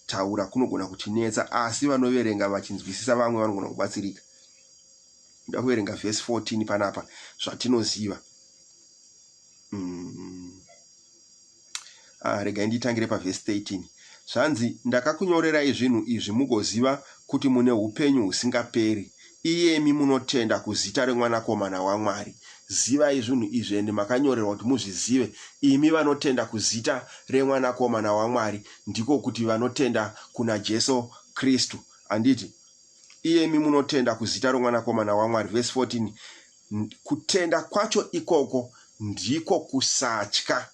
A: Kutaura kunogona kutinetsa, asi vanoverenga vachinzwisisa vamwe vanogona kubatsirika. Ndoda kuverenga vhesi 14 panapa, zvatinoziva. Mm. Ah, regai nditangire pavhesi 13. Zvanzi, Ndakakunyorerai zvinhu izvi mugoziva kuti mune upenyu husingaperi, Iyemi munotenda kuzita reMwanakomana waMwari, zivai zvinhu izvi, ende makanyorerwa kuti muzvizive, imi vanotenda kuzita reMwanakomana waMwari, ndiko kuti, vanotenda kunaJesu Kristu. Handiti? Iyemi munotenda kuzita reMwanakomana waMwari, vhesi 14, kutenda kwacho ikoko ndiko kusatya.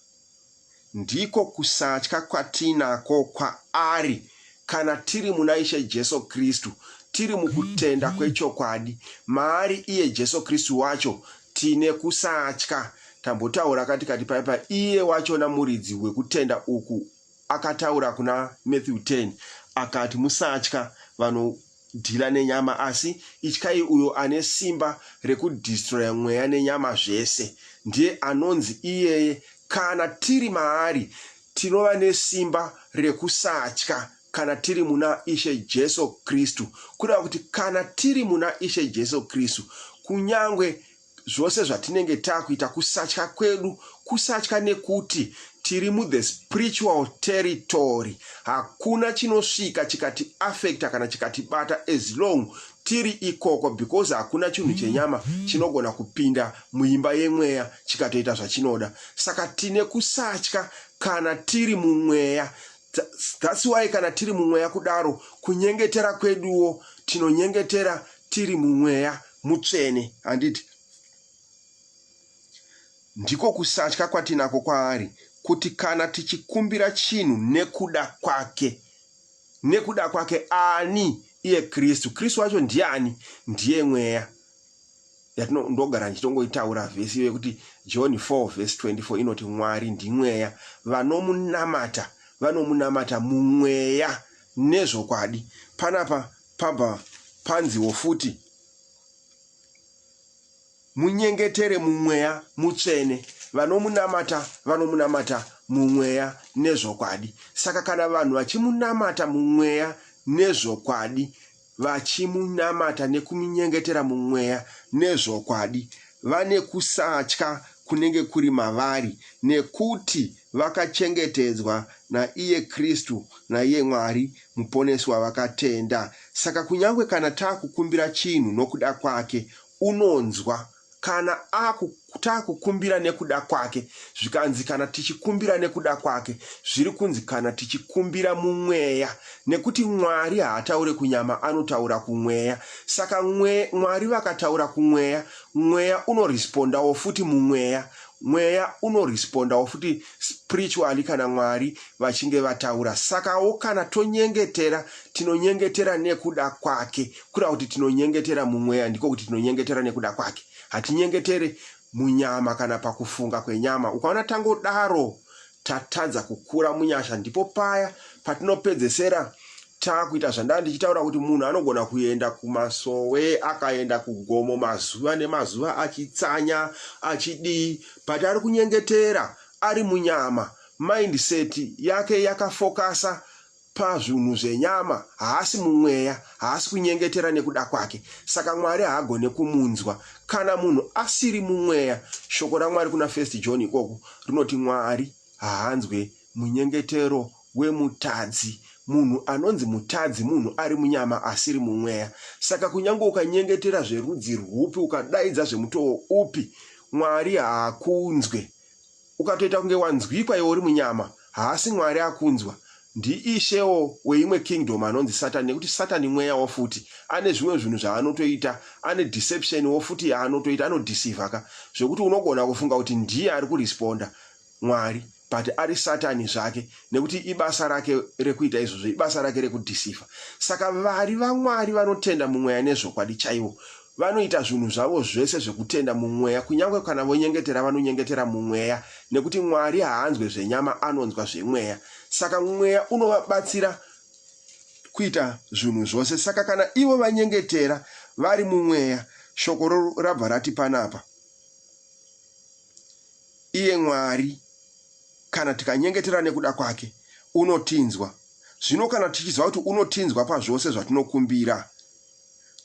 A: Ndiko kusatya kwatinako kwaari kana tiri muna Ishe Jesu Kristu, tiri mukutenda kwechokwadi. Maari iye Jesu Kristu wacho tine kusatya. Tambotaura katikati paipa, iye wachona muridzi wekutenda uku akataura kuna Matthew 10 akati, Musatya vanhu Dealer nenyama asi ityai uyo ane simba rekudestroyer mweya nenyama zvese ndiye anonzi iyeye kana tiri maari tinova nesimba rekusatya kana tiri muna Ishe Jesu Kristu kureva kuti kana tiri muna Ishe Jesu Kristu kunyangwe zvose zvatinenge takuita kusatya kwedu kusatya nekuti tiri muthe spiritual territory hakuna chinosvika chikati affecta kana chikatibata as long tiri ikoko because hakuna chinhu chenyama chinogona kupinda muimba yemweya chikatoita zvachinoda saka tine kusatya kana tiri mumweya thats why kana tiri mumweya kudaro kunyengetera kweduwo tinonyengetera tiri mumweya Mutsvene, handiti? Ndiko kusatya kwatinako kwaari, kuti kana tichikumbira chinhu nekuda kwake, nekuda kwake ani? Iye Kristu. Kristu wacho ndiani? Ndiye mweya ndogara ndichitongoitaura vhesi iyo yekuti john 4 vhesi 24 inoti mwari ndimweya vanomunamata vanomunamata mumweya nezvokwadi panapa pabva panziwo futi munyengetere mumweya mutsvene vanomunamata vanomunamata mumweya nezvokwadi saka kana vanhu vachimunamata mumweya nezvokwadi vachimunamata nekumunyengetera mumweya nezvokwadi vane kusatya kunenge kuri mavari nekuti vakachengetedzwa naiye kristu naiye mwari Muponesi wavakatenda. Saka kunyangwe kana taakukumbira chinhu nokuda kwake, unonzwa. Kana aku, taakukumbira nekuda kwake, zvikanzi kana tichikumbira nekuda kwake, zviri kunzi kana tichikumbira mumweya, nekuti Mwari haataure kunyama anotaura kumweya. Saka mwe, Mwari vakataura kumweya, mweya unorespondawo futi mumweya, mweya unorespondawo futi. spiritually kana Mwari vachinge vataura. Sakawo kana tonyengetera, tinonyengetera nekuda kwake. Kura kuti tinonyengetera mumweya, ndiko kuti tinonyengetera nekuda kwake. Hatinyengetere munyama kana pakufunga kwenyama. Ukaona tangodaro tatadza kukura munyasha, ndipo paya patinopedzesera Takuita zvandanga ndichitaura kuti munhu anogona kuenda kumasowe akaenda kugomo mazuva nemazuva achitsanya achidii but ari kunyengetera ari munyama mindset yake yakafokasa pazvinhu zvenyama haasi mumweya haasi kunyengetera nekuda kwake saka mwari haagone kumunzwa kana munhu asiri mumweya shoko ramwari kuna first john ikoko rinoti mwari haanzwe Munyengetero wemutadzi. Munhu anonzi mutadzi munhu ari munyama asiri mumweya. Saka kunyange ukanyengetera zverudzi rwupi, ukadaidza zvemutowo upi, Mwari haakunzwe. Ukatoita kunge wanzwikwa iwe uri munyama, haasi Mwari akunzwa. Ndiishewo weimwe kingdom anonzi Satani nekuti Satani mweyawo futi. Ane zvimwe zvinhu zvaanotoita, ane deception wo futi yaanotoita, anodeceiver ka zvekuti unogona kufunga kuti ndiye ari kuresponda Mwari. but ari satani zvake nekuti ibasa rake rekuita izvozvo ibasa rake rekudhisifa saka vari vamwari vanotenda mumweya nezvokwadi chaivo vanoita zvinhu zvavo zvese zvekutenda mumweya kunyange kana vonyengetera vanonyengetera mumweya nekuti mwari haanzwe zvenyama anonzwa zvemweya saka mweya unovabatsira kuita zvinhu zvose saka kana ivo vanyengetera vari mumweya shoko rabva rati panapa Iye Mwari, kana tikanyengetera nekuda kwake, unotinzwa. Zvino kana tichiziva kuti unotinzwa pazvose zvatinokumbira,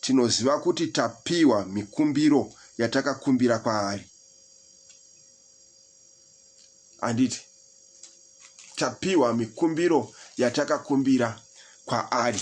A: tinoziva kuti tapiwa mikumbiro yatakakumbira kwaari. Handiti? Tapiwa mikumbiro yatakakumbira kwaari.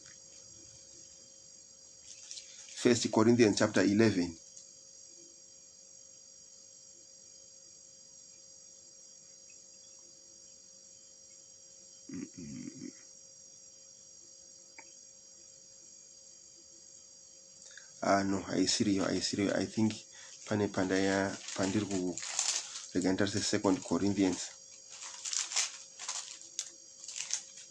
A: First Corinthians chapter 11 ah no haisiriyo haisiriyo i think pane pandaya pandiri ku rega nditarise second corinthians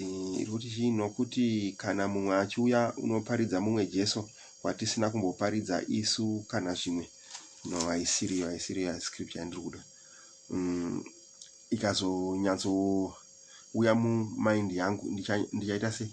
A: Eh, iri kuti chii nokuti kana mumwe achiuya unoparidza mumwe jesu watisina kumboparidza isu kana zvimwe no haisiriyo haisiriyo scripture yandiri kuda mm, ikazonyatsouya mumind yangu ndichaita ndicha sei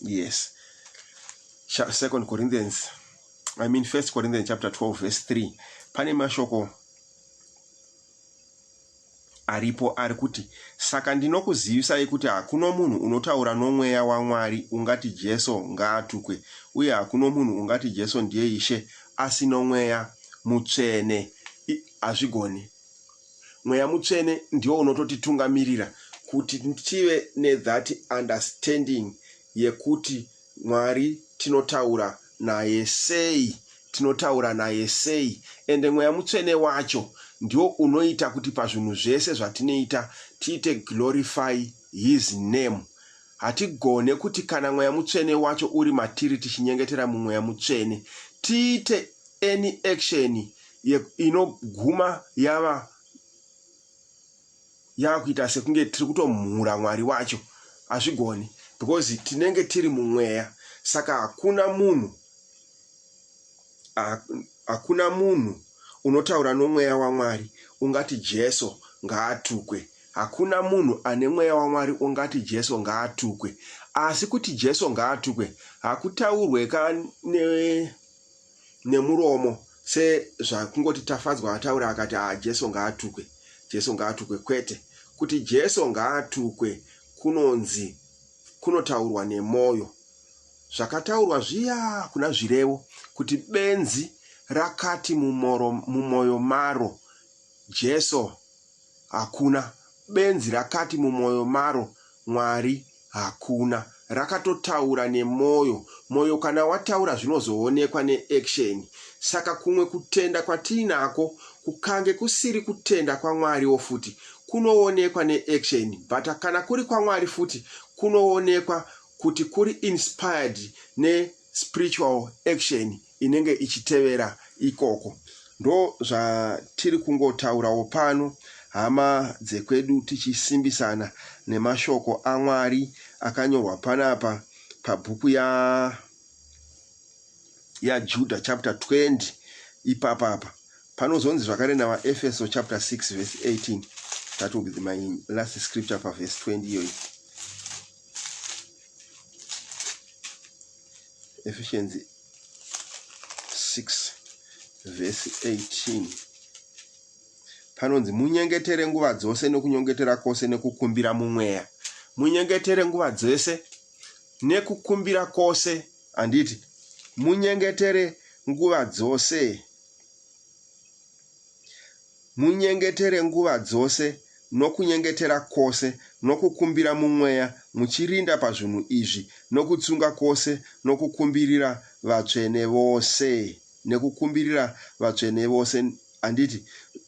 A: yes second corinthians i mean first corinthians chapter 12 verse 3 pane mashoko aripo ari kuti saka ndinokuzivisai kuti hakuno munhu unotaura nomweya wamwari ungati jesu ngaatukwe uye hakuno munhu ungati jesu ndiye ishe asi nomweya mutsvene hazvigoni Mweya mutsvene ndiwo unototitungamirira kuti tive nethat understanding yekuti Mwari tinotaura naye sei, tinotaura naye sei ende Mweya Mutsvene wacho ndiwo unoita kuti pazvinhu zvese zvatinoita tiite glorify his name. Hatigone kuti kana Mweya Mutsvene wacho uri matiri tichinyengetera muMweya Mutsvene tiite any action inoguma yava yava kuita sekunge tiri kutomhura Mwari wacho. Hazvigoni because tinenge tiri muMweya saka hakuna munhu Hakuna munhu unotaura nomweya waMwari ungati Jesu ngaatukwe. Hakuna munhu ane mweya waMwari ungati Jesu ngaatukwe. Asi kuti Jesu ngaatukwe hakutaurwe ka ne, nemuromo sezvakungoti Tafadzwa ataura akati a ah, Jesu ngaatukwe, Jesu ngaatukwe. Kwete, kuti Jesu ngaatukwe kunonzi kunotaurwa nemoyo. Zvakataurwa zviya kuna Zvirevo kuti benzi rakati mumoro, mumoyo maro Jesu hakuna, benzi rakati mumoyo maro Mwari hakuna. Rakatotaura nemoyo. Moyo kana wataura zvinozoonekwa neaction. Saka kumwe kutenda kwatiinako kukange kusiri kutenda kwaMwariwo futi kunoonekwa neaction but kana kuri kwaMwari futi kunoonekwa kuti kuri inspired ne spiritual action inenge ichitevera ikoko ndo zvatiri kungotaurawo pano hama dzekwedu tichisimbisana nemashoko amwari akanyorwa panapa pabhuku ya yajuda chapter 20 ipapapa panozonzi zvakare navaefeso chapter 6 verse 18 that will be my last scripture paverse 20 iyoyi Ephesians 6 vhesi 18 panonzi munyengetere nguva dzose nokunyengetera kwose nekukumbira mumweya munyengetere nguva dzose nekukumbira kwose handiti munyengetere nguva dzose Munyengetere nguva dzose nokunyengetera kwose nokukumbira muMweya, muchirinda pazvinhu izvi nokutsunga kwose nokukumbirira vatsvene vose, nekukumbirira vatsvene vose. Handiti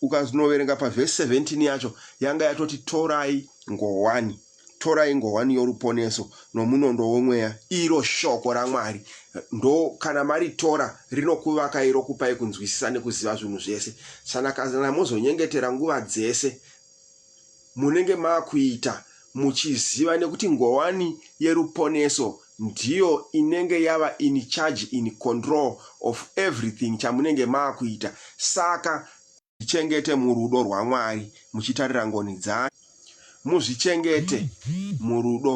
A: ukanoverenga pavhesi 17 yacho yanga yatoti torai ngowani? torai ngohwani yoruponeso nomunondo womweya iro shoko ramwari ndo kana maritora rinokuvakai rokupai kunzwisisa nekuziva zvinhu zvese sana kana mozonyengetera nguva dzese munenge makuita muchiziva nekuti ngowani yeruponeso ndiyo inenge yava in charge in control of everything chamunenge makuita saka Muzvichengete murudo rwaMwari muchitarira ngoni dzake. Muzvichengete murudo.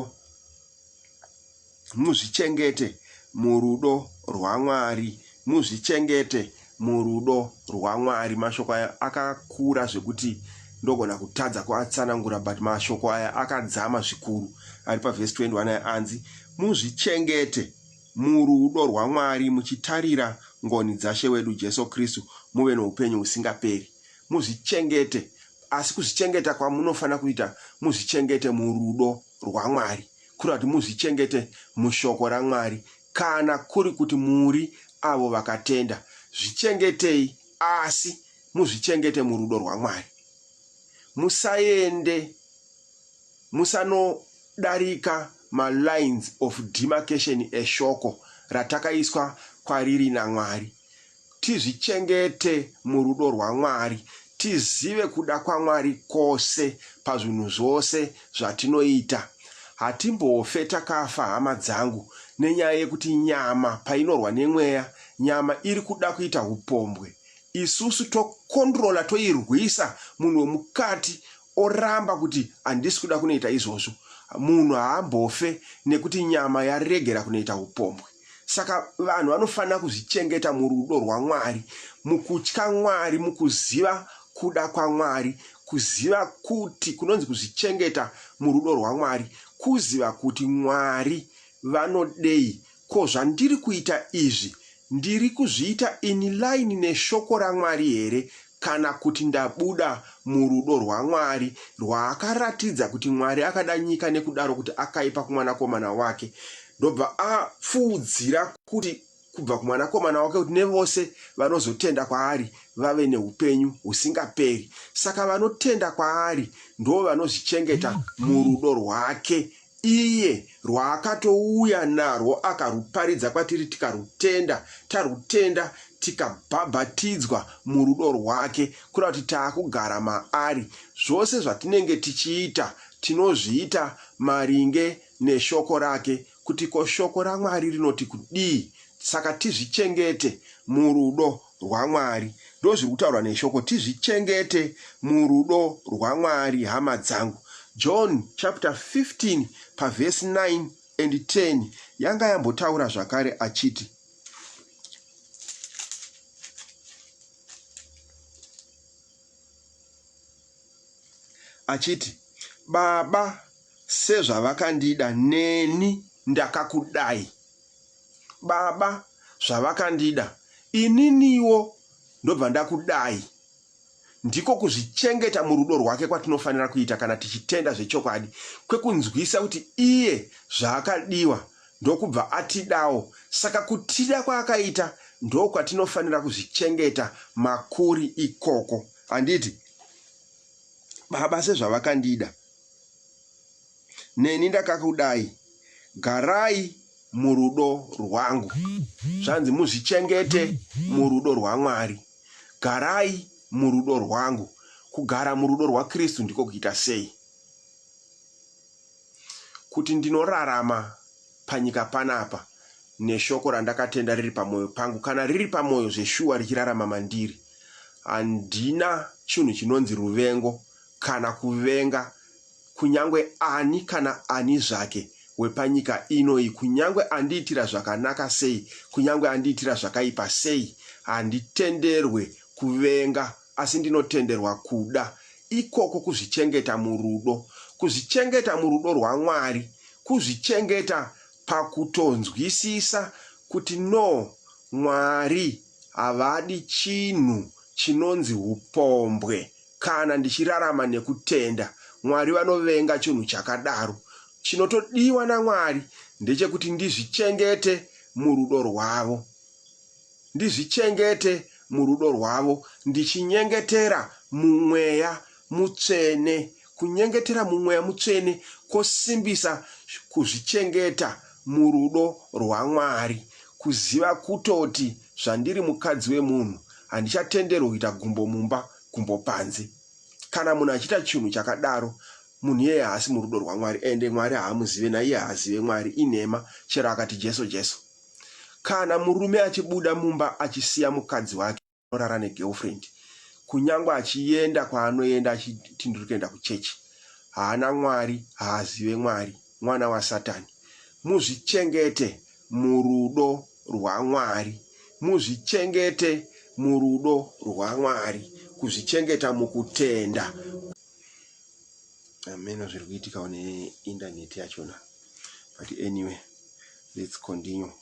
A: Muzvichengete murudo rwaMwari. Muzvichengete murudo rwaMwari. Mashoko aya akakura zvekuti ndogona kutadza kuatsanangura but mashoko aya akadzama zvikuru ari pavhesi 21 aya anzi muzvichengete murudo rwaMwari muchitarira ngoni dzaShe wedu Jesu Kristu muve noupenyu husingaperi. Muzvichengete, asi kuzvichengeta kwamunofanira kuita muzvichengete murudo rwaMwari, kureva kuti muzvichengete muShoko raMwari, kana kuri kuti muri avo vakatenda, zvichengetei, asi muzvichengete murudo rwaMwari. Musaende. Musanodarika ma lines of demarcation eshoko ratakaiswa kwariri naMwari. Tizvichengete murudo rwaMwari, tizive kuda kwaMwari kose pazvinhu zvose zvatinoita. Hatimbofe takafa hama dzangu nenyaya yekuti nyama painorwa nemweya, nyama iri kuda kuita hupombwe, isusu to controller toirwisa munhu wemukati oramba kuti handisi kuda kunoita izvozvo, munhu haambofe nekuti nyama yaregera kunoita upombwe. Saka vanhu vanofanira kuzvichengeta murudo rwaMwari, mukutya Mwari, mukuziva kuda kwaMwari, kuziva kuti kunonzi kuzvichengeta murudo rwaMwari, kuziva kuti Mwari vanodei Ko zvandiri kuita izvi ndiri kuzviita in line neshoko raMwari here kana kuti ndabuda murudo rwaMwari rwaakaratidza kuti Mwari akada nyika nekudaro kuti akaipa kumwanakomana wake ndobva apfuudzira kuti kubva kumwanakomana wake kuti nevose vanozotenda kwaari vave neupenyu husingaperi saka vanotenda kwaari ndoo vanozvichengeta murudo rwake Iye rwaakatouya narwo akaruparidza kwatiri tikarutenda, tarutenda tikabhabhatidzwa murudo rwake kureva kuti taakugara maari. Zvose zvatinenge tichiita tinozviita maringe neshoko rake kuti ko shoko raMwari rinoti kudii. Saka tizvichengete murudo rwaMwari ndozviri kutaurwa neshoko tizvichengete murudo rwaMwari hama dzangu John chapter 15 paverse 9 and 10 yanga yambotaura zvakare achiti achiti baba sezvavakandida neni ndakakudai baba zvavakandida ininiwo ndobva ndakudai. Ndiko kuzvichengeta murudo rwake kwatinofanira kuita kana tichitenda zvechokwadi kwekunzwisa kuti iye zvaakadiwa ndokubva atidawo. Saka kutida kwaakaita ndokwatinofanira kuzvichengeta makuri ikoko. Handiti? Baba sezvavakandida. neni ndakakudai garai murudo rwangu zvanzi muzvichengete murudo rwamwari garai murudo rwangu kugara murudo rwakristu ndiko kuita sei kuti ndinorarama panyika panapa neshoko randakatenda riri pamwoyo pangu kana riri pamwoyo zveshuwa richirarama mandiri handina chinhu chinonzi ruvengo kana kuvenga Kunyangwe ani kana ani zvake wepanyika ino iyi, kunyangwe andiitira zvakanaka sei, kunyangwe andiitira zvakaipa sei, handitenderwe kuvenga, asi ndinotenderwa kuda. Ikoko kuzvichengeta murudo. Kuzvichengeta murudo rwaMwari. Kuzvichengeta pakutonzwisisa kuti no, Mwari havadi chinhu chinonzi hupombwe Kana ndichirarama nekutenda, Mwari vanovenga chunhu chakadaro. Chinotodiwa naMwari ndechekuti ndizvichengete murudo rwavo. Ndizvichengete murudo rwavo ndichinyengetera mumweya mutsvene. Kunyengetera mumweya mutsvene kosimbisa kuzvichengeta murudo rwaMwari. Kuziva kutoti zvandiri mukadzi wemunhu handichatenderwi kuita gumbo mumba. kumbo panze kana munhu achiita chinhu chakadaro munhu iyeye haasi murudo rwamwari ende mwari haamuzive naiye haazive mwari inhema chero akati jesu jesu kana murume achibuda mumba achisiya mukadzi wake anorara negirlfriend kunyange achienda kwaanoenda achiti ndiri kuenda kuchechi haana mwari haazive mwari Mwana wasatani. Muzvichengete murudo rwaMwari. Muzvichengete murudo rwaMwari. Kuzvichengeta mukutenda. Hameno zviri kuitikawo neindaneti yachona but anyway let's continue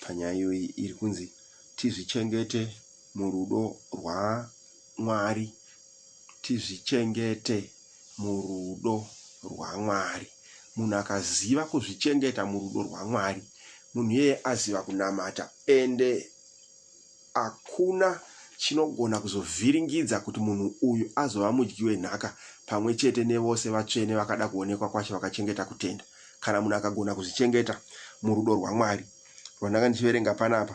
A: panyaya iyoyi iri kunzi tizvichengete murudo rwaMwari. Tizvichengete murudo rwaMwari. Munhu akaziva kuzvichengeta murudo rwaMwari, munhu iyeye aziva kunamata ende hakuna chinogona kuzovhiringidza kuti munhu uyu azova mudyi wenhaka pamwe chete nevose vatsvene vakada kuonekwa kwaShe vakachengeta kutenda. Kana munhu akagona kuzvichengeta murudo rwaMwari, rwandanga ndichiverenga panapa,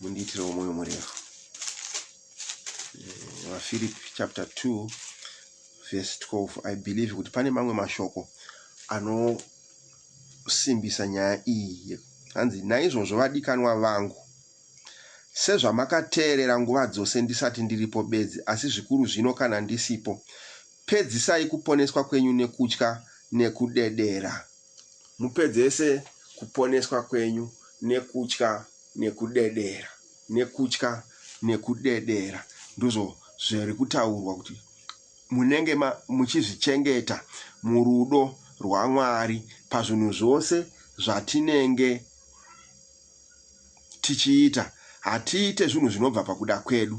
A: mundiitirewo mwoyo murefu eh, vafirip chapter 2 verse 12 i believe kuti pane mamwe mashoko anosimbisa nyaya iyi hanzi naizvozvo vadikanwa vangu sezvamakateerera nguva dzose ndisati ndiripo bedzi asi zvikuru zvino kana ndisipo pedzisai kuponeswa kwenyu nekutya nekudedera Mupedzese kuponeswa kwenyu nekutya nekudedera, nekutya nekudedera. Ndizvo zviri kutaurwa kuti munenge muchizvichengeta murudo rwaMwari pazvinhu zvose zvatinenge tichiita. Hatiite zvinhu zvinobva pakuda kwedu.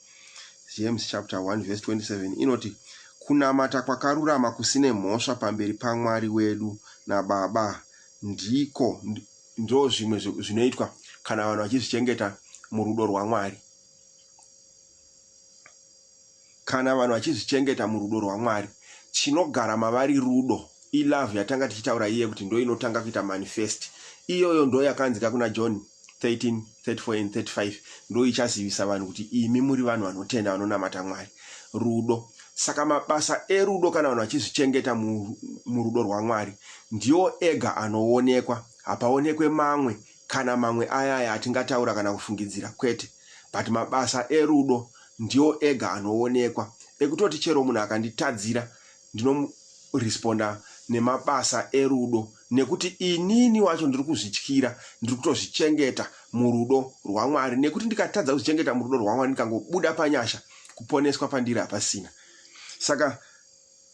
A: James chapter 1 verse 27 inoti kunamata kwakarurama kusine mhosva pamberi paMwari wedu naBaba ndiko ndo zvimwe zvinoitwa kana vanhu vachizvichengeta murudo rwaMwari kana vanhu vachizvichengeta murudo rwaMwari chinogara mavari rudo ilove yatanga tichitaura iye kuti ndo inotanga kuita manifest iyoyo ndo yakanzika kuna John 13, 34 and 35 ndo ichazivisa vanhu kuti imi muri vanhu vanotenda vanonamata Mwari. Rudo. Saka mabasa erudo kana vanhu vachizvichengeta murudo rwaMwari ndiwo ega anoonekwa. Hapaonekwe mamwe kana mamwe ayaya atingataura kana kufungidzira kwete. But mabasa erudo ndiwo ega anoonekwa. Ekutoti chero munhu akanditadzira Ndinomu responder nemabasa erudo nekuti inini wacho ndiri kuzvityira ndiri kutozvichengeta murudo rwaMwari nekuti ndikatadza kuzvichengeta murudo rwaMwari ndikangobuda panyasha kuponeswa pandiri hapasina saka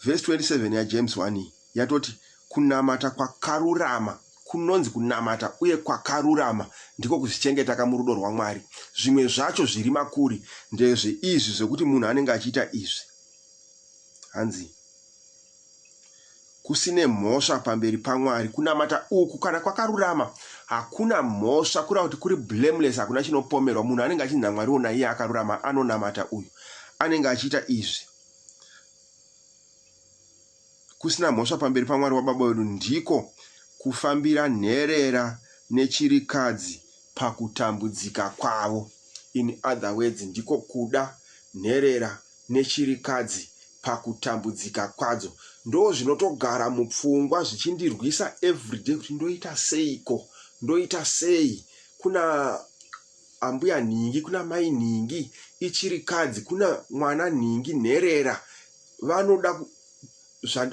A: verse 27 yaJames 1 iyi yatoti kunamata kwakarurama kunonzi kunamata uye kwakarurama ndiko kuzvichengeta kamurudo rwaMwari zvimwe zvacho zviri makuri ndezve izvi zvekuti munhu anenge achiita izvi Hanzi kusine mhosva pamberi paMwari kunamata uku kana kwakarurama hakuna mhosva kureva kuti kuri blameless hakuna chinopomerwa munhu anenge achinzi naMwari ona iye akarurama anonamata uyu anenge achiita izvi kusina mhosva pamberi paMwari waBaba wedu ndiko kufambira nherera nechirikadzi pakutambudzika kwavo. In other words, ndiko kuda nherera nechirikadzi pakutambudzika kwadzo. Ndozvinotogara mupfungwa zvichindirwisa everyday kuti ndoita seiko, ndoita sei kuna ambuya nhingi, kuna mai nhingi, ichirikadzi, kuna mwana nhingi, nherera vanoda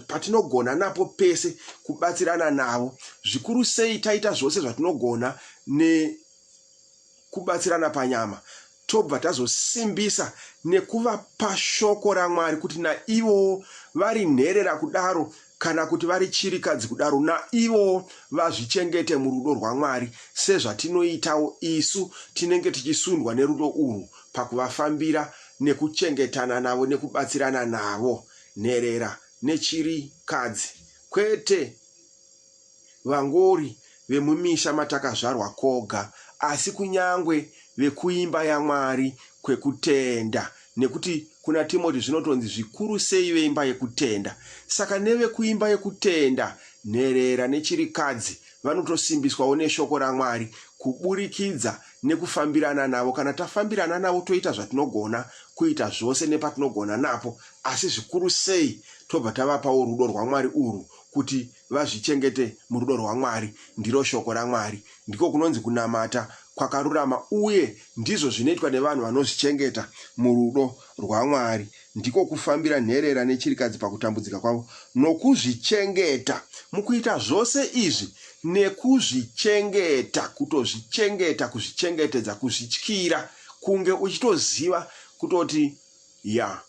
A: patinogona napo pese kubatsirana navo zvikuru sei taita zvose zvatinogona nekubatsirana panyama tobva tazosimbisa nekuvapa shoko ramwari kuti naivowo vari nherera kudaro kana kuti vari chirikadzi kudaro, naivo vazvichengete murudo rwaMwari sezvatinoitawo isu tinenge tichisundwa nerudo urwu pakuvafambira nekuchengetana navo nekubatsirana navo. Nherera nechirikadzi, kwete. Vangori vemumisha matakazvarwa koga, asi kunyangwe vekuimba yaMwari kwekutenda, nekuti kuna Timoti zvinotonzi zvikuru sei veimba yekutenda. Saka nevekuimba yekutenda, nherera nechirikadzi vanotosimbiswawo neshoko raMwari kuburikidza nekufambirana navo. Kana tafambirana navo toita zvatinogona kuita zvose nepatinogona napo, asi zvikuru sei tobva tavapawo rudo rwaMwari urwu kuti vazvichengete murudo rwaMwari. Ndiro Shoko raMwari. Ndiko kunonzi kunamata kwakarurama, uye ndizvo zvinoitwa nevanhu vanozvichengeta murudo rwaMwari. Ndiko kufambira nherera nechirikadzi pakutambudzika kwavo nokuzvichengeta. Mukuita zvose izvi nekuzvichengeta, kutozvichengeta, kuzvichengetedza, kuzvityira, kunge uchitoziva kutoti, Ya,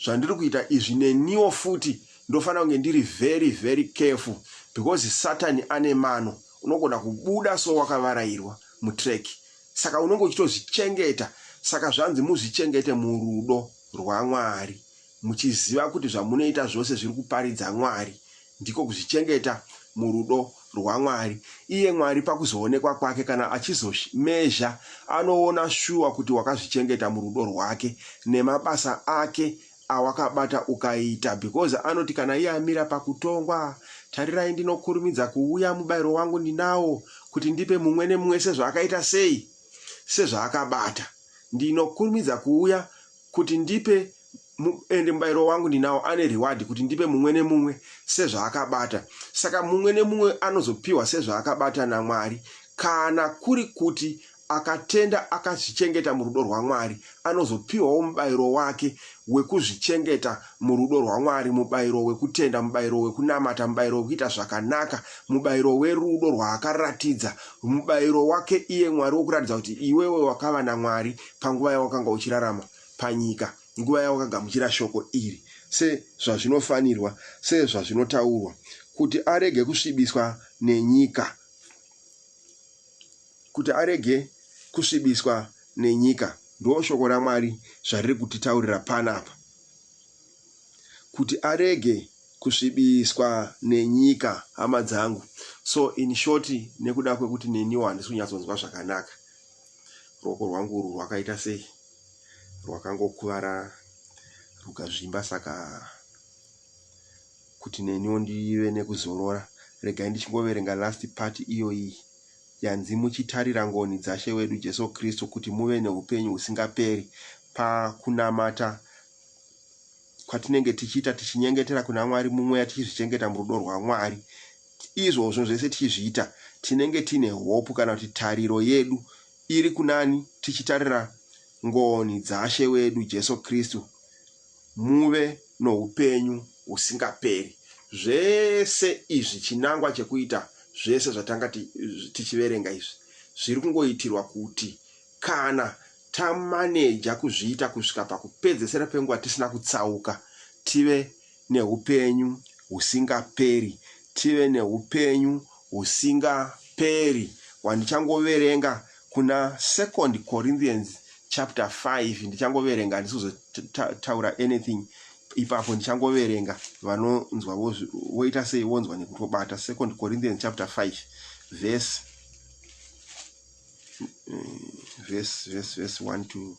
A: zvandiri kuita izvi neniwo futi ndofanira kunge ndiri very very careful because satani ane mano unogona kubuda so wakavarairwa mutrack saka unenge uchitozvichengeta saka zvanzi muzvichengete murudo rwamwari muchiziva kuti zvamunoita zvose zviri kuparidza mwari Ndiko kuzvichengeta murudo rwaMwari. Iye Mwari pakuzoonekwa kwake kana achizomezha anoona shuwa kuti wakazvichengeta murudo rwake nemabasa ake awakabata ukaita because anoti kana iye amira pakutongwa tarirai ndinokurumidza kuuya mubairo wangu ndinawo kuti ndipe mumwe nemumwe sezvaakaita sei sezvaakabata ndinokurumidza kuuya Kuti ndipe mu, ende mubairo wangu ndinawo, ane reward kuti ndipe mumwe nemumwe sezvaakabata. Saka mumwe nemumwe anozopiwa sezvaakabata naMwari. Kana kuri kuti akatenda akazvichengeta murudo rwaMwari, anozopiwawo mubairo wake wekuzvichengeta murudo rwaMwari, mubairo wekutenda, mubairo wekunamata, mubairo wekuita zvakanaka, mubairo werudo rwaakaratidza, mubairo wake iye Mwari wokuratidza kuti iwewe wakava naMwari, panguva yawakanga uchirarama panyika, nguva yawakagamuchira Shoko iri, sezvazvinofanirwa, sezvazvinotaurwa, kuti arege kusvibiswa nenyika, kuti arege kusvibiswa nenyika. Ndoo Shoko raMwari zvariri kutitaurira panapa, kuti arege kusvibiswa nenyika, hama dzangu. So, in short, nekuda kwekuti neniwo handisi kunyatsonzwa zvakanaka, Ruoko rwangu urwu rwakaita sei? Rwakangokuvara rukazvimba saka kuti neniwo ndive nekuzorora regai ndichingoverenga last part iyoyi yanzi muchitarira ngoni dzashe wedu Jesu Kristu kuti muve neupenyu husingaperi pakunamata kwatinenge tichiita tichinyengetera kuna Mwari mumweya tichizvichengeta murudo rwaMwari Izvozvo zvese tichizviita, tinenge tiine hopu kana kuti tariro yedu iri kunani tichitarira ngoni dzaShe wedu Jesu Kristu, muve noupenyu husingaperi. Zvese izvi chinangwa chekuita zvese zvatanga tichiverenga izvi zviri kungoitirwa kuti kana tamaneja kuzviita kusvika pakupedzesera penguva tisina kutsauka, tive neupenyu husingaperi, tive neupenyu husingaperi hwandichangoverenga kuna second Corinthians chapter 5 ndichangoverenga handisi kuzotaura anything ipapo ndichangoverenga vanonzwa voita sei vonzwa nekuti vobata second Corinthians chapter 5 verse eh, verse verse verse 1 to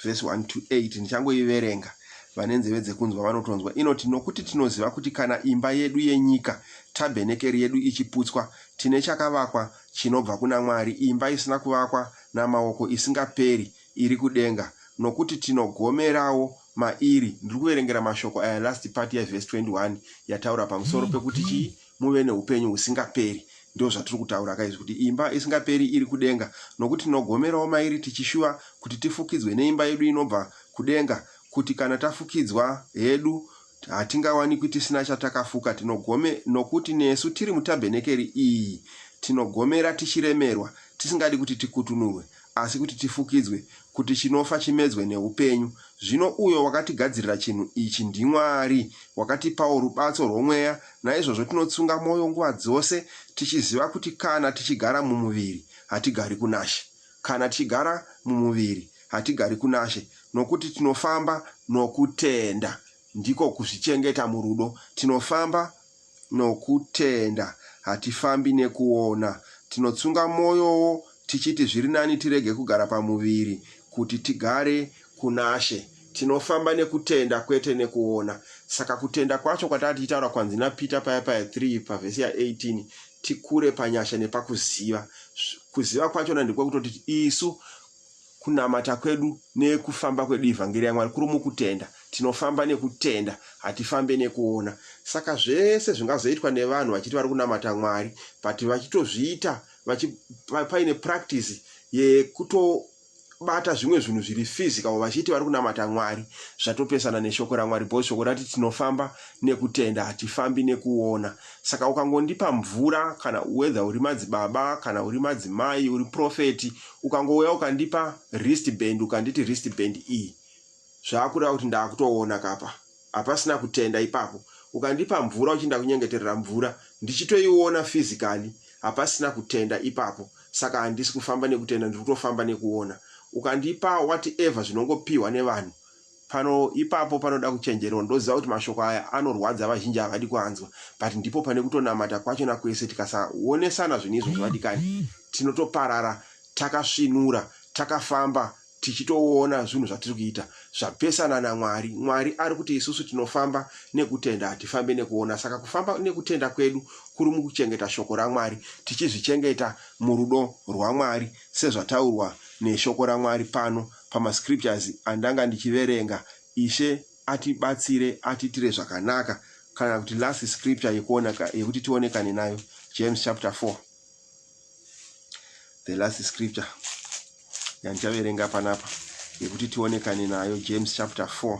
A: vhesi 1 to 8 ndichangoiverenga vane nzeve dzekunzwa vanotonzwa inoti nokuti tinoziva kuti kana imba yedu yenyika tabhenekeri yedu ichiputswa tine chakavakwa chinobva kuna mwari imba isina kuvakwa namaoko isingaperi iri kudenga nokuti tinogomerawo mairi ndiri kuverengera mashoko aya last part yevhesi 21 yataura pamusoro pekuti chii muve neupenyu husingaperi. Ndozvatiri kutaura ka izvi kuti imba isingaperi iri kudenga nokuti tinogomerawo mairi tichishuva kuti tifukidzwe neimba yedu inobva kudenga kuti kana tafukidzwa hedu hatingawanikwi tisina chatakafuka tinogome nokuti nesu tiri mutabhenekeri iyi tinogomera tichiremerwa tisingadi kuti tikutunurwe asi kuti tifukidzwe, kuti chinofa chimedzwe nehupenyu. Zvino uyo wakatigadzirira chinhu ichi ndiMwari, wakatipawo rubatso rwomweya, naizvozvo tinotsunga mwoyo nguva dzose, tichiziva kuti kana tichigara mumuviri, hatigari kunaShe. Kana tichigara mumuviri, hatigari kunaShe, nokuti tinofamba nokutenda, ndiko kuzvichengeta murudo, tinofamba Nokutenda, hatifambi nekuona. Tinotsunga mwoyowo tichiti zviri nani tirege kugara pamuviri kuti tigare kunaShe. Tinofamba nekutenda kwete nekuona. Saka kutenda kwacho kwatanga tichitaura kwanzi naPeter paya paya 3 pavhesi ya 18 tikure panyasha nepakuziva. Kuziva kwachona ndiko kutoti isu kunamata kwedu nekufamba kwedu ivhangeri yamwari kuri mukutenda tinofamba nekutenda hatifambe nekuona saka zvese zvingazoitwa nevanhu vachiti vari kunamata mwari but vachitozviita paine practice yekutobata zvimwe zvinhu zviri physical vachiti vari kunamata mwari zvatopesana neshoko ramwari bcause shoko rati tinofamba nekutenda hatifambi nekuona Saka ukangondipa mvura kana whether uri madzibaba kana uri madzimai uri prophet ukangouya ukandipa wrist band ukanditi wrist band iyi zvakureva kuti ndakutoona kapa hapasina kutenda ipapo ukandipa mvura uchinda kunyengeterera mvura ndichitoiona physically hapasina kutenda ipapo saka handisi kufamba nekutenda ndiri kutofamba nekuona ukandipa whatever zvinongopihwa nevanhu Pano ipapo panoda kuchenjerwa ndoziva kuti mashoko aya anorwadza vazhinji havadi kuanzwa but ndipo pane kutonamata kwachona kwese tikasaonesana zvinhu izvozvo vadikani tinotoparara takasvinura takafamba tichitoona zvinhu zvatiri kuita zvapesana namwari mwari ari kuti isusu tinofamba nekutenda hatifambe nekuona saka kufamba nekutenda kwedu kuri mukuchengeta shoko ramwari tichizvichengeta murudo rwamwari sezvataurwa neshoko ramwari pano pama scriptures andanga ndichiverenga Ishe atibatsire atiitire zvakanaka kana kuti last scripture yekuona yekuti tionekane nayo James chapter 4 the last scripture yandichaverenga panapa yekuti tionekane nayo James chapter 4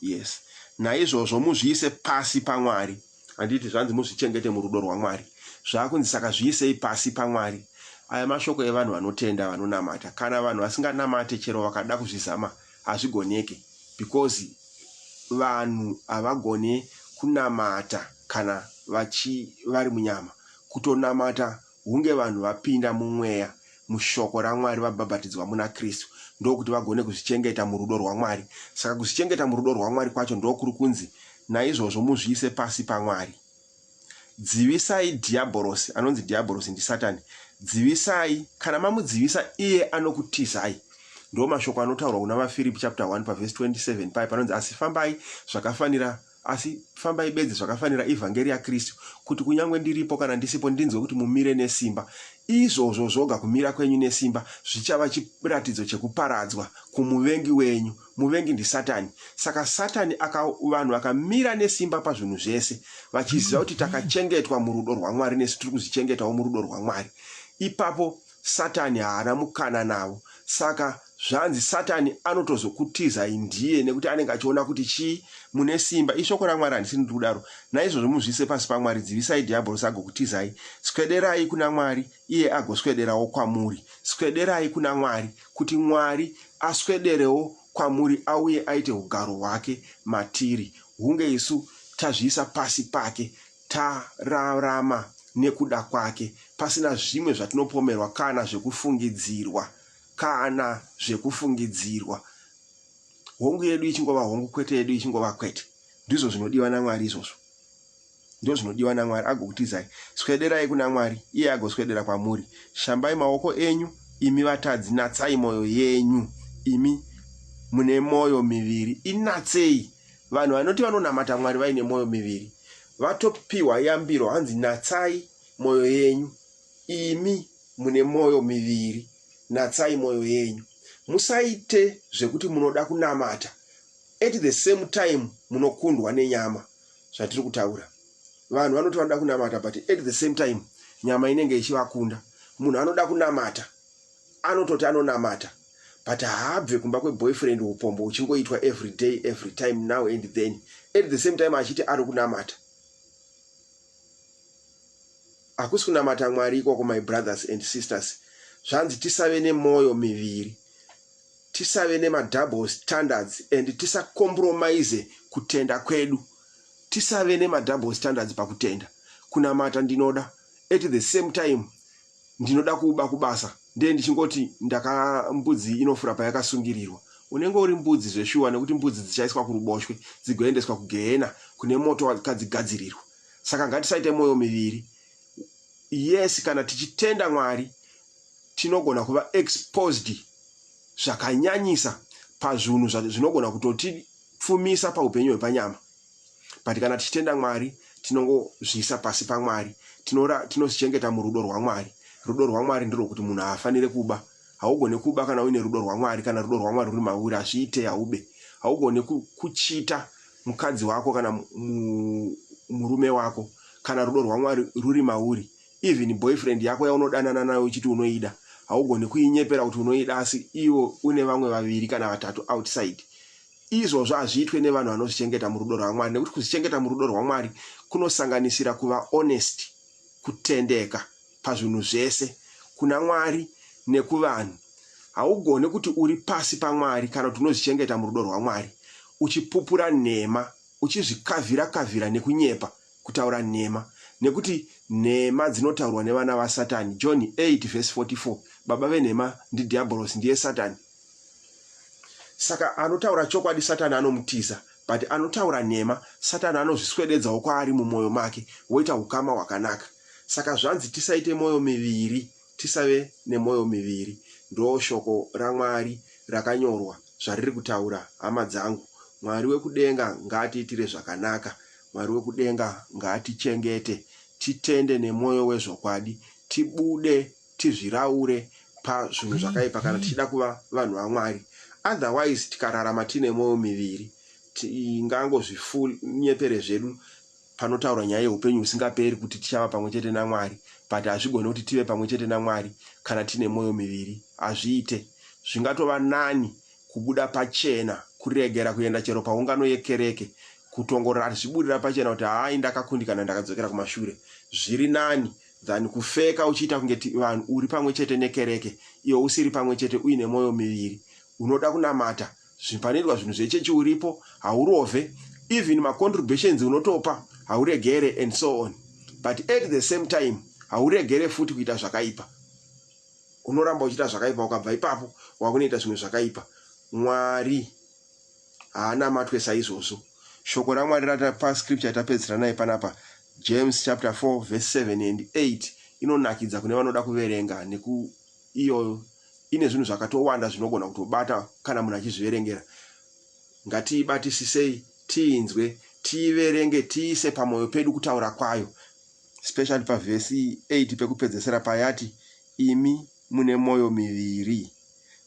A: Yes. Naizvozvo muzviise pasi paMwari. Handiti zvanzi muzvichengete murudo rwaMwari. Zvakunzi saka zviisei pasi paMwari. Aya mashoko evanhu vanotenda vanonamata. Kana vanhu vasinganamate chero vakada kuzvizama hazvigoneke because vanhu havagone kunamata kana vachi vari munyama. Kutonamata hunge vanhu vapinda mumweya, mushoko raMwari, vabhabhatidzwa muna Kristu, ndokuti vagone kuzvichengeta murudo rwaMwari. Saka kuzvichengeta murudo rwaMwari kwacho ndokuri kunzi, Naizvozvo muzviise pasi paMwari. Dzivisai Dhiyabhorosi, anonzi Dhiyabhorosi ndiSatani, dzivisai, kana mamudzivisa iye anokutizai. Ndiwo mashoko anotaurwa kuna vaFiripi chapter 1 pavhesi 27 paye panonzi, Asi fambai zvakafanira Asi fambai bedzi zvakafanira ivhangeri yaKristu, kuti kunyange ndiripo kana ndisipo ndinzwe kuti mumire nesimba. Izvozvo zvoga, kumira kwenyu nesimba, zvichava chiratidzo chekuparadzwa kumuvengi wenyu. Muvengi ndiSatani. Saka Satani aka, vanhu vakamira nesimba pazvinhu zvese, vachiziva kuti takachengetwa murudo rwaMwari nesu tiri kuzvichengetawo murudo rwaMwari. Ipapo Satani haana mukana navo. Saka Zvanzi satani anotozokutizai ndiye nekuti anenge achiona kuti chii mune simba ishoko ramwari handisi ndiri kudaro naizvozvo muzviise pasi pamwari dzivisai dhiabhorosi agokutizai swederai kuna mwari iye agoswederawo kwamuri swederai kuna mwari kuti mwari aswederewo kwamuri auye aite ugaro hwake matiri hunge isu tazviisa pasi pake tararama nekuda kwake pasina zvimwe zvatinopomerwa kana zvekufungidzirwa kana zvekufungidzirwa. Hongu yedu ichingova hongu, kwete yedu ichingova kwete. Ndizvo zvinodiwa naMwari izvozvo. Ndizvo zvinodiwa naMwari, agokutizai. Swederai kuna Mwari, iye agoswedera kwamuri. Shambai maoko enyu, imi vatadzi, natsai mwoyo yenyu, imi mune mwoyo miviri. Inatsei. Vanhu vanoti vanonamata Mwari vaine mwoyo miviri vatopiwa yambiro, hanzi natsai mwoyo yenyu. Imi mune mwoyo miviri, natsai mwoyo yenyu. Musaite zvekuti munoda kunamata at the same time munokundwa nenyama. Zvatiri kutaura vanhu vanoti vanoda kunamata but at the same time nyama inenge ichivakunda. Munhu anoda kunamata anototi anonamata but haabve kumba kweboyfriend upombo uchingoitwa every day every time now and then at the same time achiti ari kunamata. Hakusi kunamata Mwari ikoko my brothers and sisters zvanzi tisave nemoyo miviri tisave nema double standards and tisa compromise kutenda kwedu tisave nema double standards pakutenda kunamata ndinoda at the same time ndinoda kuba kubasa ndiye ndichingoti ndaka mbudzi inofura payakasungirirwa unenge uri mbudzi zveshuwa nekuti mbudzi dzichaiswa kuruboshwe dzigoendeswa kugehena kune moto wakadzigadzirirwa saka ngatisaite mwoyo miviri yes kana tichitenda mwari tinogona kuva exposed zvakanyanyisa pazvinhu zvinogona kutotipfumisa paupenyu hwepanyama but kana tichitenda mwari tinongozviisa pasi pamwari tinozvichengeta murudo rwamwari rudo rwamwari ndirwo kuti munhu haafanire kuba haugone kuba kana uine rudo rwamwari kana rudo rwamwari ruri mauri hazviite haube haugone kuchita mukadzi wako kana murume wako kana rudo rwamwari ruri mauri even boyfriend yako yaunodanana nayo uchiti unoida haugoni kuinyepera kuti unoida asi ivo une vamwe vaviri kana vatatu outside izvozvo hazviitwe nevanhu vanozvichengeta murudo rwamwari nekuti kuzvichengeta murudo rwamwari kunosanganisira kuva honest kutendeka pazvinhu zvese, kuna Mwari nekuvanhu. Haugone kuti uri pasi paMwari kana kuti unozvichengeta murudo rwaMwari, uchipupura nhema, uchizvikavhira-kavhira nekunyepa, kutaura nhema, nekuti nhema dzinotaurwa nevana vaSatani. John 8 vhesi 44 Baba venhema ndiDhiabhorosi, ndiye Satani. Saka anotaura chokwadi Satani anomutiza, but anotaura nhema Satani anozviswededzawo kwaari mumwoyo make, woita ukama hwakanaka. Saka zvanzi tisaite moyo miviri tisave nemoyo miviri ndoo shoko raMwari rakanyorwa zvariri kutaura hama dzangu Mwari wekudenga ngaatiitire zvakanaka Mwari wekudenga ngaatichengete titende nemoyo wezvokwadi tibude tizviraure pazvinhu zvakaipa kana tichida kuva vanhu vaMwari otherwise tikararama tiine moyo miviri tingangozvifull nyepere zvedu Panotaurwa nyaya yeupenyu husingaperi kuti tichava pamwe chete naMwari but hazvigone kuti tive pamwe chete naMwari kana tine mwoyo miviri. Hazviite. Zvingatova nani kubuda pachena, kuregera kuenda chero paungano yekereke, kutongorara tichiburira pachena kuti hayi ndakakundikana ndakadzokera kumashure. Zviri nani than kufeka uchiita kunge vanhu uri pamwe chete nekereke iwe usiri pamwe chete uine mwoyo miviri. Unoda kunamata zvinhu panoitwa zvinhu zvechechi uripo haurovhe even macontributions unotopa hauregere and so on but at the same time hauregere futi kuita zvakaipa unoramba uchiita zvakaipa ukabva ipapo wakunoita zvimwe zvakaipa mwari haana matwe saizvozvo shoko ramwari ratapa scripture tapedzisira naye panapa james chapter 4 verse 7 and 8 inonakidza kune vanoda kuverenga neku iyo ine zvinhu zvakatowanda zvinogona kutobata kana munhu achizviverengera ngatiibatisisei tiinzwe tiiverenge tiise pamwoyo pedu kutaura kwayo specially pavhesi 8 pekupedzesera payati imi mune mwoyo miviri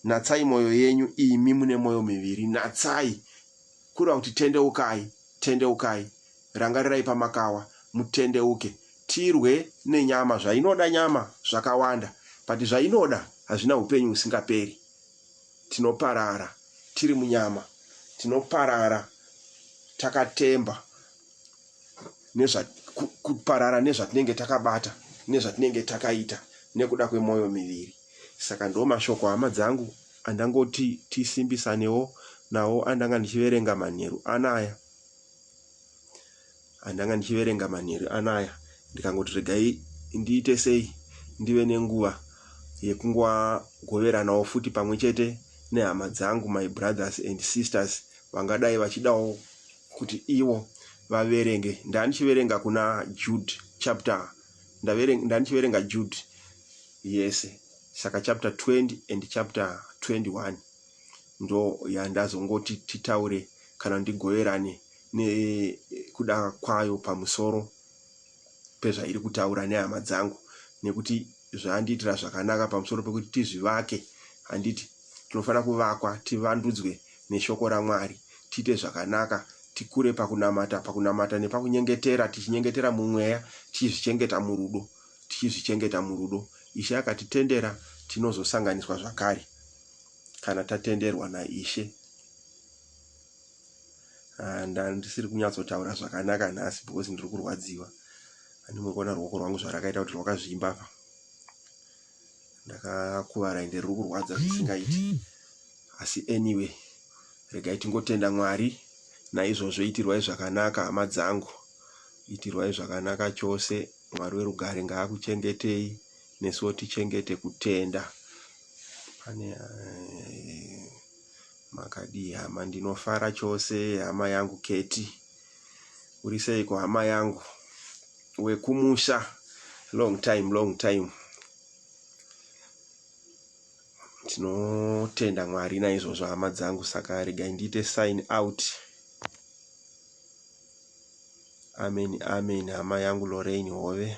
A: natsai mwoyo yenyu imi mune mwoyo miviri natsai kureva kuti tendeukai tendeukai Rangarirai pamakawa, mutendeuke. Tirwe nenyama, zvainoda nyama zvakawanda but zvainoda hazvina hupenyu husingaperi. Tinoparara tiri munyama, tinoparara takatemba nezva, ku, kuparara nezvatinenge takabata nezvatinenge takaita nekuda kwemoyo miviri. Saka ndo mashoko hama dzangu andangoti tisimbisanewo nawo andanga ndichiverenga manheru anaya. andanga ndichiverenga manheru anaya ndikangoti regai ndiite sei ndive nenguva yekungogoveranawo futi pamwe chete nehama dzangu my brothers and sisters vangadai vachidawo kuti ivo vaverenge ndandichiverenga kuna jude chapter ndandichiverenga jude yese saka chapter 20 and chapter 21 ndo yandazongoti titaure kana ndigoverane nekuda kwayo pamusoro pezvairi kutaura nehama dzangu nekuti zvandiitira zvakanaka pamusoro pekuti tizvivake handiti tinofanira kuvakwa tivandudzwe neshoko ramwari tiite zvakanaka tikure pakunamata pakunamata nepakunyengetera tichinyengetera mumweya tichizvichengeta murudo tichizvichengeta murudo ishe akatitendera tinozosanganiswa zvakare kana tatenderwa naIshe. Ah, ndisiri kunyatsotaura zvakanaka nhasi because ndiri kurwadziwa ani mukuona ruoko rwangu zvarakaita kuti rwakazvimba apa ndakakuvara ende riri kurwadza zvisingaiti asi anyway regai tingotenda mwari naizvozvo itirwai zvakanaka hama dzangu itirwai zvakanaka chose mwari werugare ngaakuchengetei nesuwo tichengete kutenda pane eh, makadii hama ndinofara chose hama yangu keti uri seiko hama yangu wekumusha long time long time tinotenda mwari naizvozvo hama dzangu saka regai ndiite sign out amen amen hama yangu lorain hove